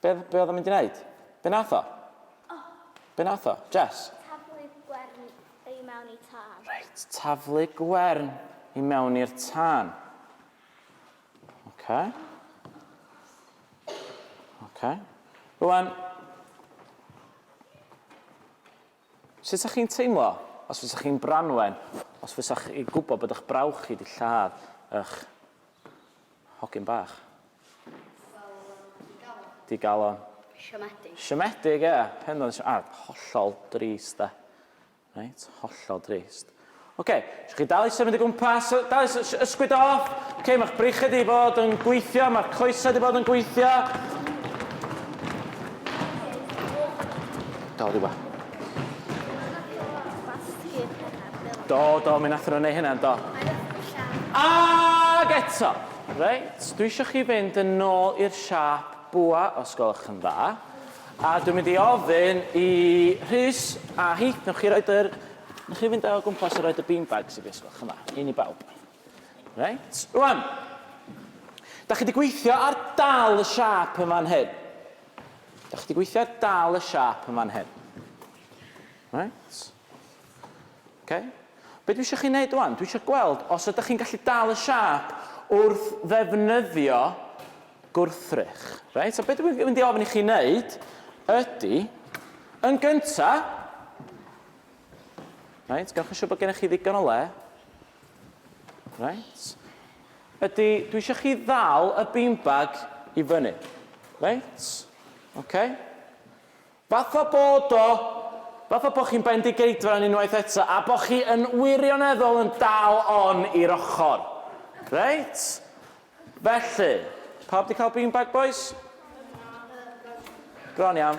S2: Be, be oedd o'n mynd i wneud? Be nath o? Oh. Be nath o? Jess? Taflu gwern
S3: i mewn i tân. Reit, taflu
S2: gwern i mewn i'r tân. Okay. Okay. Rwan, sut ydych chi'n teimlo os fysa chi'n Branwen, os fysa chi gwybod bod eich brawch chi wedi lladd eich Hogyn bach. Digalon.
S5: Siomedig. Siomedig, ie.
S2: Pendant siomedig. A, ah, hollol drist, da. Reit, hollol drist. Oce, okay, eisiau chi dal i symud i gwmpas, dal i ysgwyd off. Oce, okay, mae'ch brychau di bod yn gweithio, mae'ch coesau di bod yn gweithio. Dal di ba. Do, do, mi nathon nhw neu' hynna, do. Ag eto! Reit, dwi isio chi fynd yn nôl i'r siâp bwa os gwelwch yn dda, a dwi'n mynd i ofyn i Rhys a Heath, newch chi roid yr... newch chi fynd o gwmpas a roid y beanbags i fi os gwelwch yn dda, un i bawb. Reit, rŵan, da chi di gweithio ar dal y siâp yn fan hyn. Da chi di gweithio ar dal y siâp yn fan hyn. Reit. Oce? Be dwi isio chi wneud ŵan, dwi isio gweld os ydych chi'n gallu dal y siâp wrth ddefnyddio gwrthrych. Reit, so be dwi'n mynd i ofyn i chi wneud ydy, yn gynta, reit, gawch yn siŵr bod gennych chi ddigon o le. Reit. Ydy, dwi eisiau chi ddal y beanbag i fyny. Reit? Oce? Okay? Fatha bod o! Fatha bo' chi'n Bendigeidfran unwaith eto a bo' chi yn wirioneddol yn dal on i'r ochr. Reit? Felly, pawb 'di cael beanbag bois? Bron iawn.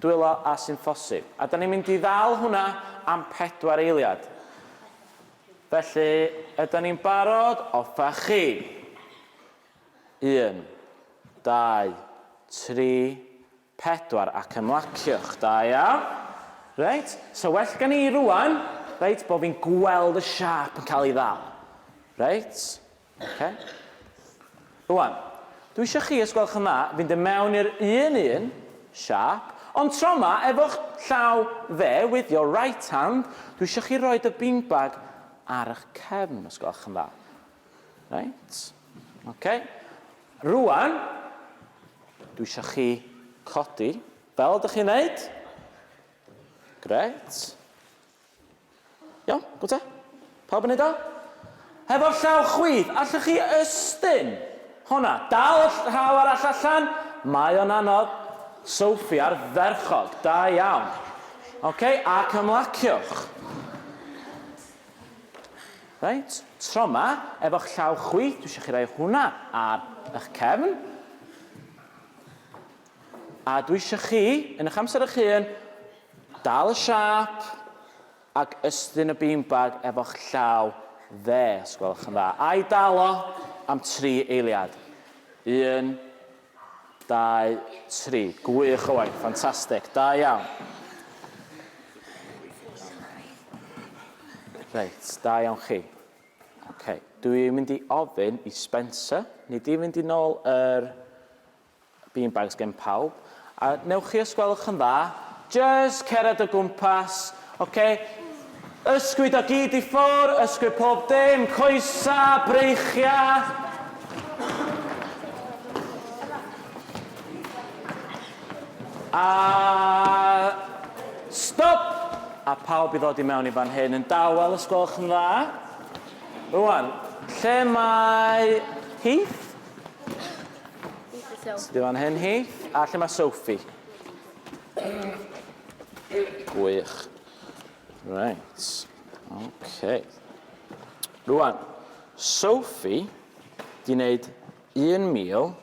S2: Dwylo a sy'n phosib. A 'da ni'n mynd i ddal hwnna am pedwar eiliad. Felly, ydan ni'n barod? Offa chi! Un, dau, tri, pedwar, ac ymlaciwch. Da iawn. Reit, so well gen i rŵan, reit, bo' fi'n gweld y siâp yn cael ei ddal. Reit. Oce. Rwan, dwi isio chi, os gwelwch yn dda, fynd i mewn i'r un un siâp, ond tro ma, efo'ch llaw dde, with your right hand, dwi isio chi roed y beanbag ar ych cefn, os gwelwch yn dda. Reit. Oce. Rwan, dwi isio chi codi, fel ydych chi'n neud. Gret. Iawn? Go te? Pawb yn neud o? Hefo'r llaw chwith, allwch chi ystyn? Honna, dal y llaw arall allan. Mae o'n anodd. Sophie, ardderchog. Da iawn. Oce, ac ymlaciwch. Reit, tro ma, efo'ch llaw chwith, dwi eisiau chi roi hwnna ar eich cefn. A dwi isio chi, yn eich amser eich hun, dal y siâp ac ystyn y beanbag efo'ch llaw dde, os gwelwch yn dda, a'i dal o am tri eiliad. Un, dau, tri. Gwych o waith, ffantastig, da iawn. Reit, da iawn chi. Okay. Dwi'n mynd i ofyn i Spencer, ni di fynd i'n ôl yr Bean bags gen pawb. A newch chi os gwelwch yn dda, jyst cered o gwmpas, ok? Ysgwyd o gyd i ffwr, ysgwyd pob dim, coesa, breichia. A stop! A pawb i ddod i mewn i fan hyn yn dawel os gwelwch yn dda. Rwan, lle mae Heath? Dim fan hyn hi. A lle mae Sophie? Gwych. Right. Okay. Rwan, Sophie di wneud 1209.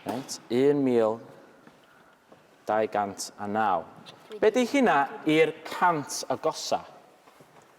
S2: Right, 1209. Be di hynna i'r cant agosa?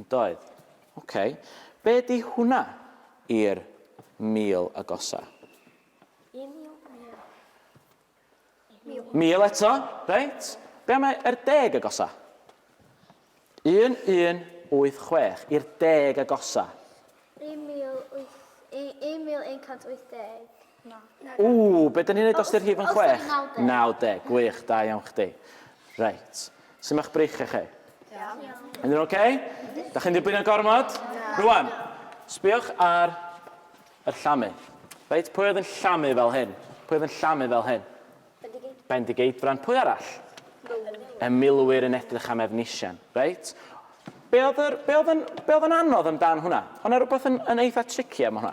S2: Yndoedd. Ok. Be di hwnna i'r mil agosa? Y mil, mil. Mil. Mil eto, reit. Be am yr deg agosa? 1186 i'r deg agosa.
S3: 1180.
S2: Ooh, be da ni'n neud os di'r rhif yn chwech? Naw deg. Gwych, da iawn chdi. Reit. Sut ma'ch breichiau chi? Iawn. Yn nhw'n oce? Da chi'n dibwyno gormod? Rwan, sbiwch ar yr llamu. Reit, pwy oedd yn llamu fel hyn? Pwy oedd yn llamu fel hyn? Bendigeidfran. Bendigeidfran. Pwy arall? Y milwyr yn edrych am Efnisien. Reit. Be oedd, yr, be oedd, yn, be oedd yn anodd amdan hwnna? Ond yna rhywbeth yn, yn eitha tricky am hwnna.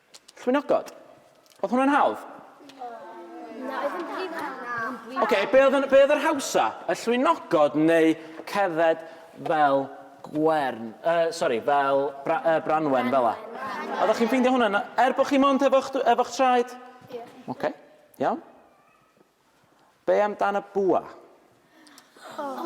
S2: Llwynogod. Oedd hwnna'n hawdd? Na, oedd yn brif hawdd. Oce, be oedd, be oedd yr hawsa? Y llwynogod neu cerdded fel gwern? Uh, sorry, fel bra, uh, branwen, fel la. Oeddech chi'n ffeindio hwnna? Er bod chi mond efo'ch efo traed? Ie. Oce, iawn. Be am dan y bwa?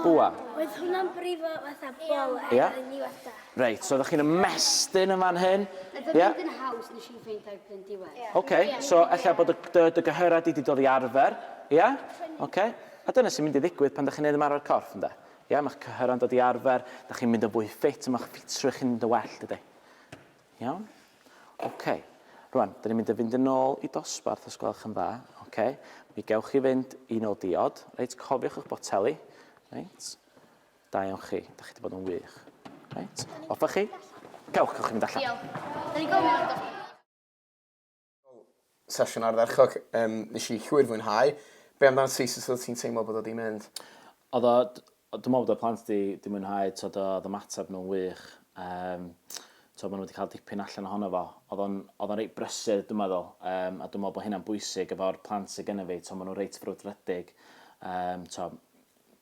S2: Bwa. Oedd hwnna'n
S3: brifo fatha bol air yeah. yn ddiwetha? Reit, so ydych chi'n
S2: ymestyn yn fan hyn? Ydych yeah. chi'n haws
S5: nes i'n ffeindio ar bryn diwedd? Yeah. Oce, okay. yeah. so efallai
S2: bod y, dy, dy gyhyrau di wedi dod i arfer, ie? Yeah? Oce. Okay. A dyna sy'n mynd i ddigwydd pan ydych chi'n neud ymarfer corff, ynddo? Ie, yeah? mae'ch cyhyrau'n dod i arfer, ydych chi'n mynd yn fwy ffit, mae'ch ffitrwydd chi'n mynd yn well, dydy? Iawn? OK. Rwan, dyn ni'n mynd i fynd yn ôl i dosbarth os gwelwch yn dda. OK. Mi gewch chi fynd i nôl diod. Reit, cofiwch eich boteli. Reit. Da iawn chi. Da chi wedi bod yn wych. Reit. Offa chi. Gewch, gewch chi fynd allan. Diolch. Da ni'n gofio.
S5: Wel,
S1: sesiwn ardderchog. Um, nes i llwyr fwynhau. Be amdano ti, sut oedd ti'n teimlo bod o di mynd? Oedd o,
S2: dwi'n meddwl bod y plant di, di mwynhau, tod oedd y mateb nhw'n wych. Um, tod maen nhw wedi cael dipyn allan ohono fo. Oedd o'n, oedd o'n reit brysur, dwi'n meddwl, um, a dwi'n meddwl bod hynna'n bwysig efo'r plant sydd gennym fi. Tod maen nhw'n reit frwdfrydig. Um, tod,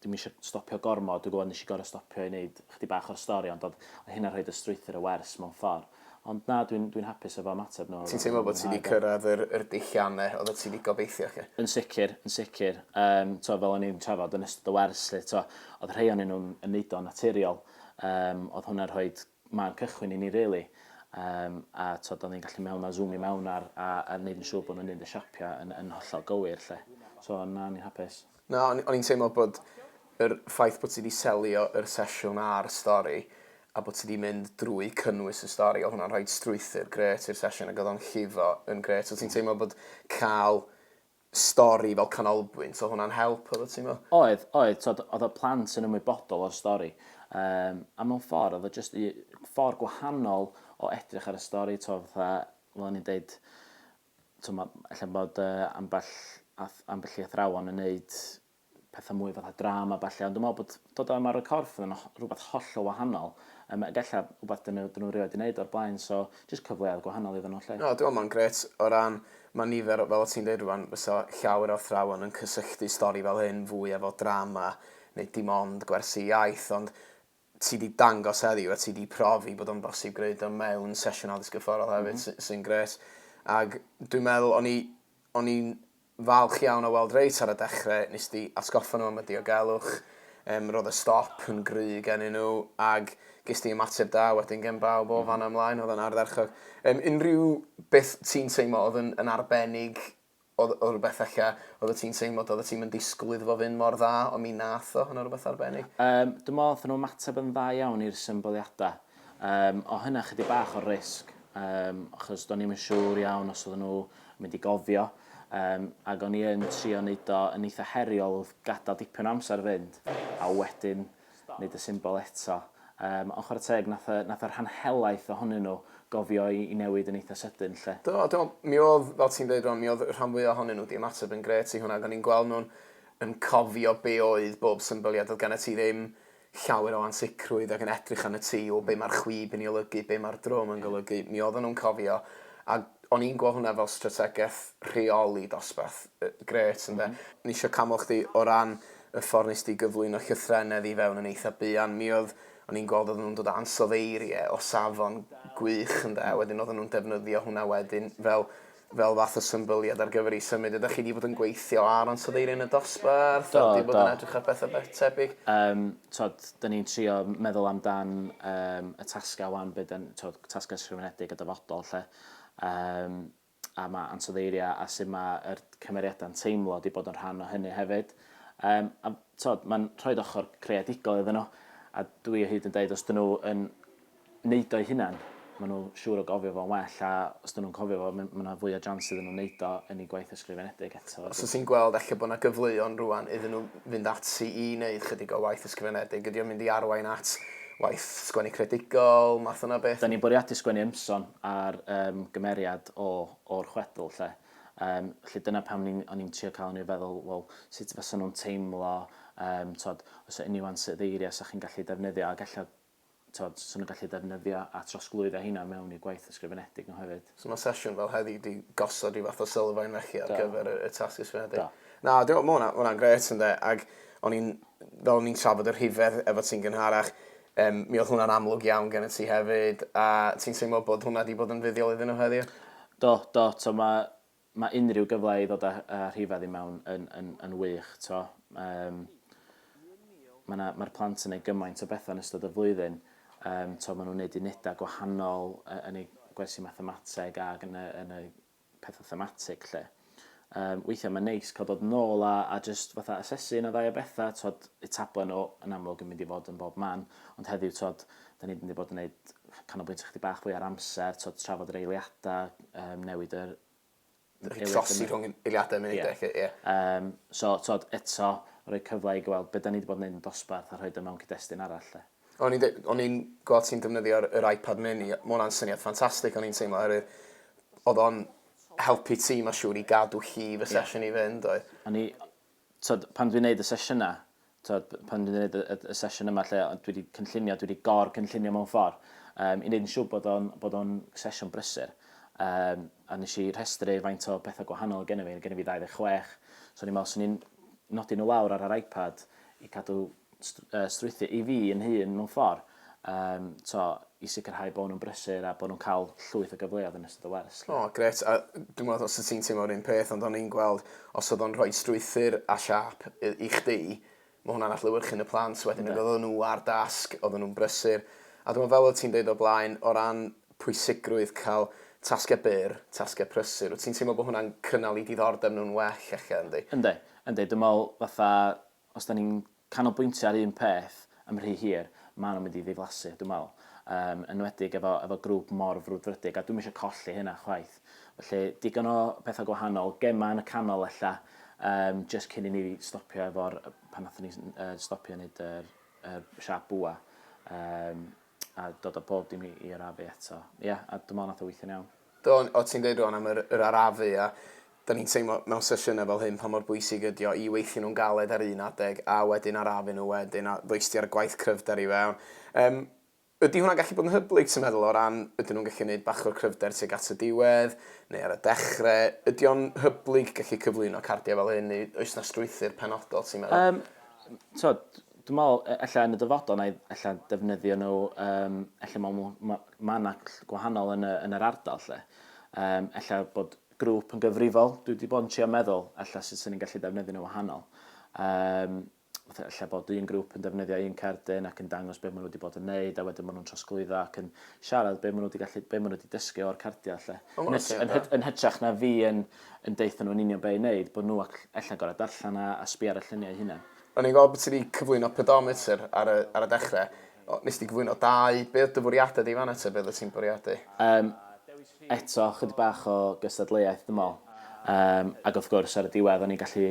S2: dwi'm isio stopio gormod, dwi'n gwybod nes i gorfod stopio i wneud chydig bach o'r stori ond oedd oedd hynna'n rhoid y strwythur y wers mewn ffordd. Ond na dwi'n dwi'n hapus efo ymateb nhw. Ti'n teimlo bod ti wedi cyrraedd
S1: yr yr dullianne oeddet ti wedi gobeithio 'lly? Yn sicr, yn sicr.
S2: Yym t'o' fel o'n i'n trafod yn ystod y wers 'lly t'o' oedd rhei o'nyn nhw'n yn neud o'n naturiol, yym oedd hwnna'n rhoid ma'n cychwyn i ni rili yym a t'od o'n ni'n gallu mewn a zŵmio mewn ar a a neud yn siŵr bo' nw'n neud y siapia yn yn hollol gywir 'lly. So na o'n i'n hapus. Na o'n o'n i'n teimlo
S1: bod yr ffaith bo' ti 'di selio yr sesiwn a'r stori a bo' ti 'di mynd drwy cynnwys y stori odd hwnna'n rhoid strwythur grêt i'r sesiwn ag odd o'n llifo yn grêt. O' ti'n teimlo bod ca'l stori fel canolbwynt, oedd hwnna'n help efo ti me'wl? Oedd, oedd, t'od oedd
S2: y plant yn ymwybodol o'r stori yym a mewn ffordd oedd o jyst u- ffordd gwahanol o edrych ar y stori t'o' fatha fel o'n i'n deud t'o' ma' ella bod yy ambell ath- ambell i athrawon yn neud petha mwy fatha drama a ballu, ond dwi'n meddwl bod dod â Maro Corff yn rhywbeth hollol wahanol, um, ag ella rhywbeth dyn nhw, dyn nhw rioed wedi gwneud o'r blaen, so jyst cyfleoedd gwahanol iddyn nhw lle. No, dwi'n meddwl mae'n gret
S1: o ran, mae nifer, fel o ti'n dweud rwan, fysa llawer o athrawon yn cysylltu stori fel hyn fwy efo drama, neu dim ond gwersi iaith, ond ti 'di dangos heddiw a ti 'di profi bod o'n bosib gwneud o mewn sesiwn addysg gyrfforol hefyd sy sy'n grêt. Ag dwi'n meddwl o'n i o'n i'n falch iawn o weld reit ar y dechre nes di atgoffa nhw am y diogelwch yym roedd y stop yn gry' gennyn nhw ag ges di ymateb da wedyn gen bawb o fan'na ymlaen oedd o'n ardderchog. Yym unrhyw beth ti'n teimlo oedd yn yn arbennig Oedd oedd rhywbeth ella oeddet ti'n teimlo doeddet ti'm yn disgwyl iddo fo fynd mor dda ond mi nath o, hwnna rhywbeth arbennig? Yym dwi'n meddwl nathon nhw
S2: ymateb yn dda iawn i'r symbyliadau. Yym o' hynna chydig bach o risg yym achos do'n i'm yn siŵr iawn os oedden nhw yn mynd i gofio yym ac o'n i yn trio neud o yn eitha heriol wrth gadel dipyn o amser fynd a wedyn nid y symbol eto. Yym, ond chwarae teg, nath y, nath y rhan helaeth ohonyn nhw gofio i, i newid yn eitha sydyn 'lly. Do, a dw'm'l, mi o'dd,
S1: fel ti'n deud rŵan, mi o'dd y rhan fwya ohonyn nhw 'di ymateb yn grêt i hwnna, ag o'n i'n gweld nhw'n yn cofio be' oedd bob symbol, ia, do'dd gennyt ti ddim llawer o ansicrwydd ac yn edrych arnat ti, o be' ma'r chwib yn 'i olygu, be' ma'r drwm yn golygu, mi o'ddan nhw'n cofio, a O'n i'n gweld hwnna fel strategaeth rheoli dosbarth grêt ynde. O'n i isio canmol chdi o ran y ffordd wnest ti gyflwyno llythrennedd i fewn yn eitha buan. Mi oedd... o'n i'n gweld oedden nhw'n dod â ansoddeiriau o safon gwych ynde a wedyn oedden nhw'n defnyddio hwnna wedyn fel fel fath o symbyliad ar gyfer eu symud. Ydych chi wedi bod yn gweithio ar ansoddeiriau yn y dosbarth? Do, do. Wedi bod yn edrych ar bethau tebyg? Yym, twod,
S2: 'da ni'n trio meddwl amdan yym y tasgau 'wan be' 'da ni, twod, tasgau ysgrifenedig a dyfodol 'lly. Yym a ma' ansoddeiriau a sut mae yr cymeriadau'n teimlo wedi bod yn rhan o hynny hefyd. Yym a t'od mae'n rhoi ochr creadigol iddyn nhw a dwi o hyd yn dweud os dyn nhw yn neud o'i hunan, maen nhw siŵr o gofio fo'n well a os dyn nhw'n cofio fo mae yna fwy o jans iddyn nhw wneud o yn ei gwaith ysgrifenedig eto. Os wyt ti'n gweld ella bod yna
S6: gyfleon rwan iddyn nhw fynd ati i wneud chydig o waith ysgrifenedig, ydy o'n mynd i arwain at Waith sgwennu creadigol, math yna o beth? Da ni'n bwriadu sgwennu ymson
S2: ar um, gymeriad o, o'r chwedl, lle. Um, lle dyna pam ni, o'n i'n trio cael yn ei feddwl, wel, sut fysa nhw'n teimlo, um, tod, os yw unrhyw ansoddeiriau sa chi'n gallu defnyddio, ac efallai, tod, sy'n nhw'n gallu defnyddio a trosglwyddo heina mewn i gwaith ysgrifenedig nhw hefyd. So ma' sesiwn fel heddi
S6: 'di gosod ryw fath o sylfaen felly ar gyfer y, y tasg ysgrifenedig? Do. Na, dwi'n meddwl, ma' hwnna, ma' hwnna'n gret ynde, ac o'n i'n, fel o'n i'n trafod y rhifedd efo ti'n gynharach, um, mi oedd hwnna'n amlwg iawn gen y ti hefyd, a ti'n teimlo bod hwnna wedi bod yn fuddiol iddyn nhw heddiw? Do, do, to
S2: mae Mae unrhyw gyfle i ddod â rhifedd i mewn yn wych. Mae'r plant yn gwneud gymaint o bethau yn ystod y flwyddyn. Maen nhw'n gwneud unedau gwahanol yn eu gwersi mathemateg ac yn y pethau thematig 'lly. Weithiau mae'n neis cael dod yn ôl a jyst asesu un neu ddau o bethau. Y tablen yn amlwg yn mynd i fod yn bob man, ond heddiw Dan ni'n mynd i fod yn neud canolbwyntio chydig bach fwy ar amser, t'od trafod yr eiliada, yym newid yr Rhoi eiliad trosi
S6: yna. rhwng eiliadau munud Ie. ac ie. Yym so t'od
S2: eto rhoi cyfle i gy- wel be' 'dan ni 'di bod yn neud yn dosbarth a rhoid o mewn cyd-destun arall 'de. O'n i'n deu- o'n
S6: i'n gweld ti'n defnyddio'r yr iPad mini ma' wnna'n syniad ffantastig o'n i'n teimlo oherwydd o'dd o'n helpu ti ma' siŵr i gadw llif y sesiwn i fynd oedd? O'n i t'od
S2: pan dwi'n neud y sesiyna Tibod, pan dwi'n gwneud y, y, y sesiwn yma lle dwi wedi cynllunio, dwi wedi gor-cynllunio mewn ffordd, um, i wneud yn siŵr bod o'n, bod o'n sesiwn brysur. Um, a nes i rhestru faint o bethau gwahanol gen i fi, gen i fi 26, so ni'n meddwl, so ni'n nodi nhw lawr ar yr iPad i cadw strwythu i fi yn hun mewn ffordd. Yym, t'o', i sicrhau bo' nhw'n brysur a bo' nhw'n ca'l llwyth o gyfleodd yn ystod y wers 'lly. O, grêt. A
S6: dwi'm w'o' os wt ti'n teimlo'r un peth ond o'n i'n gweld os odd o'n rhoi strwythur a siâp yy i chdi ma' hwnna'n adlewyrchu'n y plant wedyn ag oddan nhw ar dasg, oddan nhw'n brysur. A dwi me'wl fel o't ti'n deud o'r blaen o ran pwysigrwydd ca'l tasge byr, tasge prysur, wt ti'n teimlo bo' hwnna'n cynnal 'u diddordeb nhw'n well ella yndi? Yndi, yndi. Dwi me'wl
S2: fatha Os dan ni'n canolbwyntio ar un peth am rhy hir, maen nhw'n mynd i ddiflasu, dwi'n meddwl. Yn enwedig efo, efo grŵp mor frwdfrydig, a dwi'm eisiau colli hynna chwaith. Felly, digon o bethau gwahanol, gemau yn y canol ella, um, just cyn i ni stopio efo'r, pan nathon ni uh, stopio wneud yr, yr siap bwa, um, a dod o bob dim i, i arafu eto. Ie, yeah, a dwi'n meddwl nath o weithio'n iawn. Do, o ti'n deud rwan
S6: am yr, yr arafu a da ni'n teimlo mewn sesiynau fel hyn pa mor bwysig ydy o i weithio nhw'n galed ar un adeg a wedyn arafu nhw wedyn a ddoisti ar gwaith cryfder i fewn. Um, ydy hwnna'n gallu bod yn hyblyg ti'n meddwl o ran ydyn nhw'n gallu gwneud bach o'r cryfder tuag at y diwedd neu ar y dechrau? Ydy o'n hyblyg gallu cyflwyno cardiau fel hyn neu oes na strwythyr penodol ti'n meddwl? Um, tod,
S2: Dwi'n meddwl, e- ella yn y dyfodol, na i ella defnyddio nhw, um, ella mae ma, ma, ma yna gwahanol yn, y, yn yr ardal lle. Um, ella bod grŵp yn gyfrifol, dwi wedi bod yn trio meddwl, ella sut sy'n ni'n gallu defnyddio nhw wahanol. Um, lle bod un grŵp yn defnyddio un cerdyn ac yn dangos beth maen nhw wedi bod yn neud a wedyn maen nhw'n trosglwyddo ac yn siarad beth maen nhw wedi, gallu, beth maen nhw wedi dysgu o'r cardiau lle. Oh, yn, yn, yn, yn hytrach na fi yn, yn deitha nhw'n union beth i wneud, bod nhw allan gorau darllen a, a sbi ar y lluniau hynny. O'n i'n gweld bod ti 'di
S6: cyflwyno pedometer ar y ar y dechre. O, nes di gyflwyno dau. Be' oedd dy fwriada di fan 'na te? Be' oeddet ti'n bwriadu? Yym,
S2: eto, chydig bach o gystadleuaeth dwi me'wl. Yym, ag wrth gwrs, ar y diwedd, o'n i'n gallu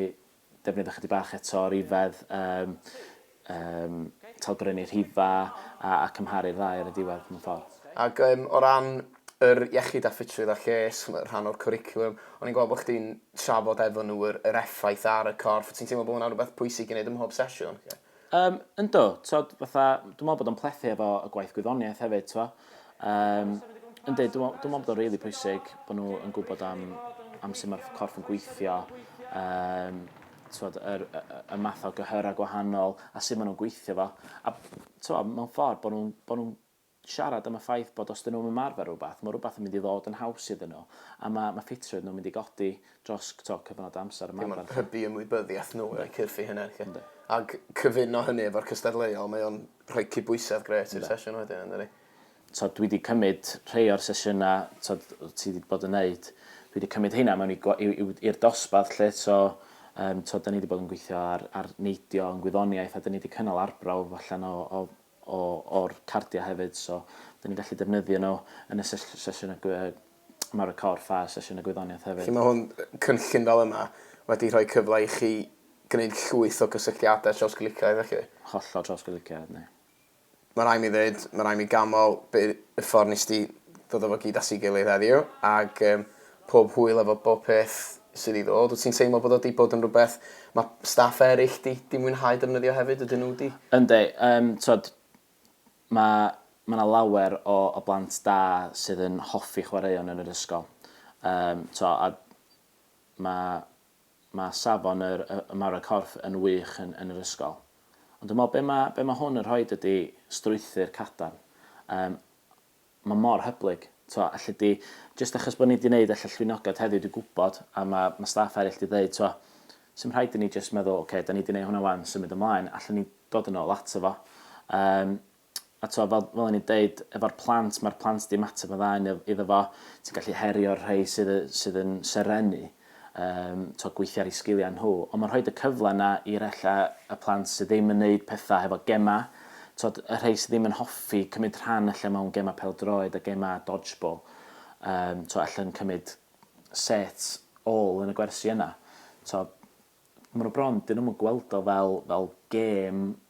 S2: defnyddio chydig bach eto o rifedd yym yym talgrynnu rhifa a a cymharu'r ddau ar y diwedd mewn ffor. Ag yym o ran
S6: yr iechyd a ffitrwydd a lles fel rhan o'r cwricwlwm. O'n i'n gweld bod chdi'n trafod efo nhw yr, yr effaith ar y corff. Ti'n teimlo bod hwnna'n rhywbeth pwysig i wneud ym mhob sesiwn? Yeah. Um, ynddo,
S2: tod, fatha, dwi'n meddwl bod o'n plethu efo y gwaith gwyddoniaeth hefyd, twa. Um, ynddo, dwi'n meddwl bod o'n rili really pwysig bod nhw yn gwybod am, am sut mae'r corff yn gweithio, um, twod, yr, y, y math o gyhyrau gwahanol a sut maen nhw'n gweithio fo. A twod, mewn ffordd bod nhw'n nhw siarad am y ffaith bod os 'dyn nhw'm ymarfer rwbath, ma' rwbath yn mynd i ddod yn haws iddyn nhw, a ma' ma' ffitrwydd nhw'n mynd i godi dros t'o' cyfnod o amser ymarfer 'lly. Ie ma'n hybu ymwybyddiaeth
S6: nhw o'u cyrff eu hunain 'lly. Yndi. Ag cyfuno hynny efo'r cystadleuol mae o'n rhoi cydbwysedd grêt i'r sesiwn wedyn yndydi?
S2: T'od dwi 'di cymyd rhei o'r sesiyna t'od wt ti 'di
S6: bod
S2: yn neud, dwi 'di cymyd heina mewn i gwa- i'w i'w i'r dosbarth 'lly so yym t'od 'dan ni 'di bod yn gweithio ar ar neidio yn gwyddoniaeth a 'dyn ni 'di cynnal arbrawf allan o o o o'r cardiau hefyd so dan ni'n gallu defnyddio nhw yn y sesiwn y Mawr y Corff a sesiwn y Gwyddoniaeth hefyd. Felly mae hwn, cynllun
S6: fel yma, wedi rhoi cyfle i chi gwneud llwyth o gysylltiadau trawsglyciaidd felly? Hollol trawsglyciaidd
S2: ni. Mae rhaid mi
S6: ddweud, mae rhaid mi ganmol y ffordd nes di ddod o fo gyd at ei gilydd heddiw ac pob hwyl efo bob peth sydd i ddod. Wyt ti'n teimlo bod o 'di bod yn rhywbeth mae staff eraill 'di 'di mwynhau defnyddio hefyd, ydyn nhw 'di? Yndi, yym
S2: t'wod ma' ma' 'na lawer o o blant da sydd yn hoffi chwaraeon yn yr ysgol. Yym t'wo' a ma' ma' safon yr y y maru corff yn wych yn yn yr ysgol. Ond dwi me'wl be' ma' be' ma' hwn yn rhoid ydi strwythur cadarn. Yym. ma mor hyblyg. T'wo' alle di... Jyst achos bo' ni 'di neud elle llwynogad heddiw dwi gwbod a ma' ma' staff eryll 'di ddeud t'wo' sdim rhaid i ni jyst meddwl oce 'dan ni 'di neu' hwnna 'wan symud ymlaen allen ni dod yn ôl ato fo. Yym a t'wo' fel fel o'n i'n deud efo'r plant ma'r plant 'di ymateb yn dda iddo fo. Ti'n gallu herio'r rhei sydd yy sydd yn serennu. yym t'o' gweithio ar 'u sgiliau nhw, ond ma'n rhoid y cyfle 'na i'r ella y plant sydd ddim yn neud petha hefo gema', t'od y rhei sy ddim yn hoffi cymryd rhan ella mewn gema' pêl-droed a gema' dodgeball, yym t'o' ella'n cymryd set ôl yn y gwersi yna. T'o' ma' nw bron, 'dyn nw'm yn gweld o fel fel gêm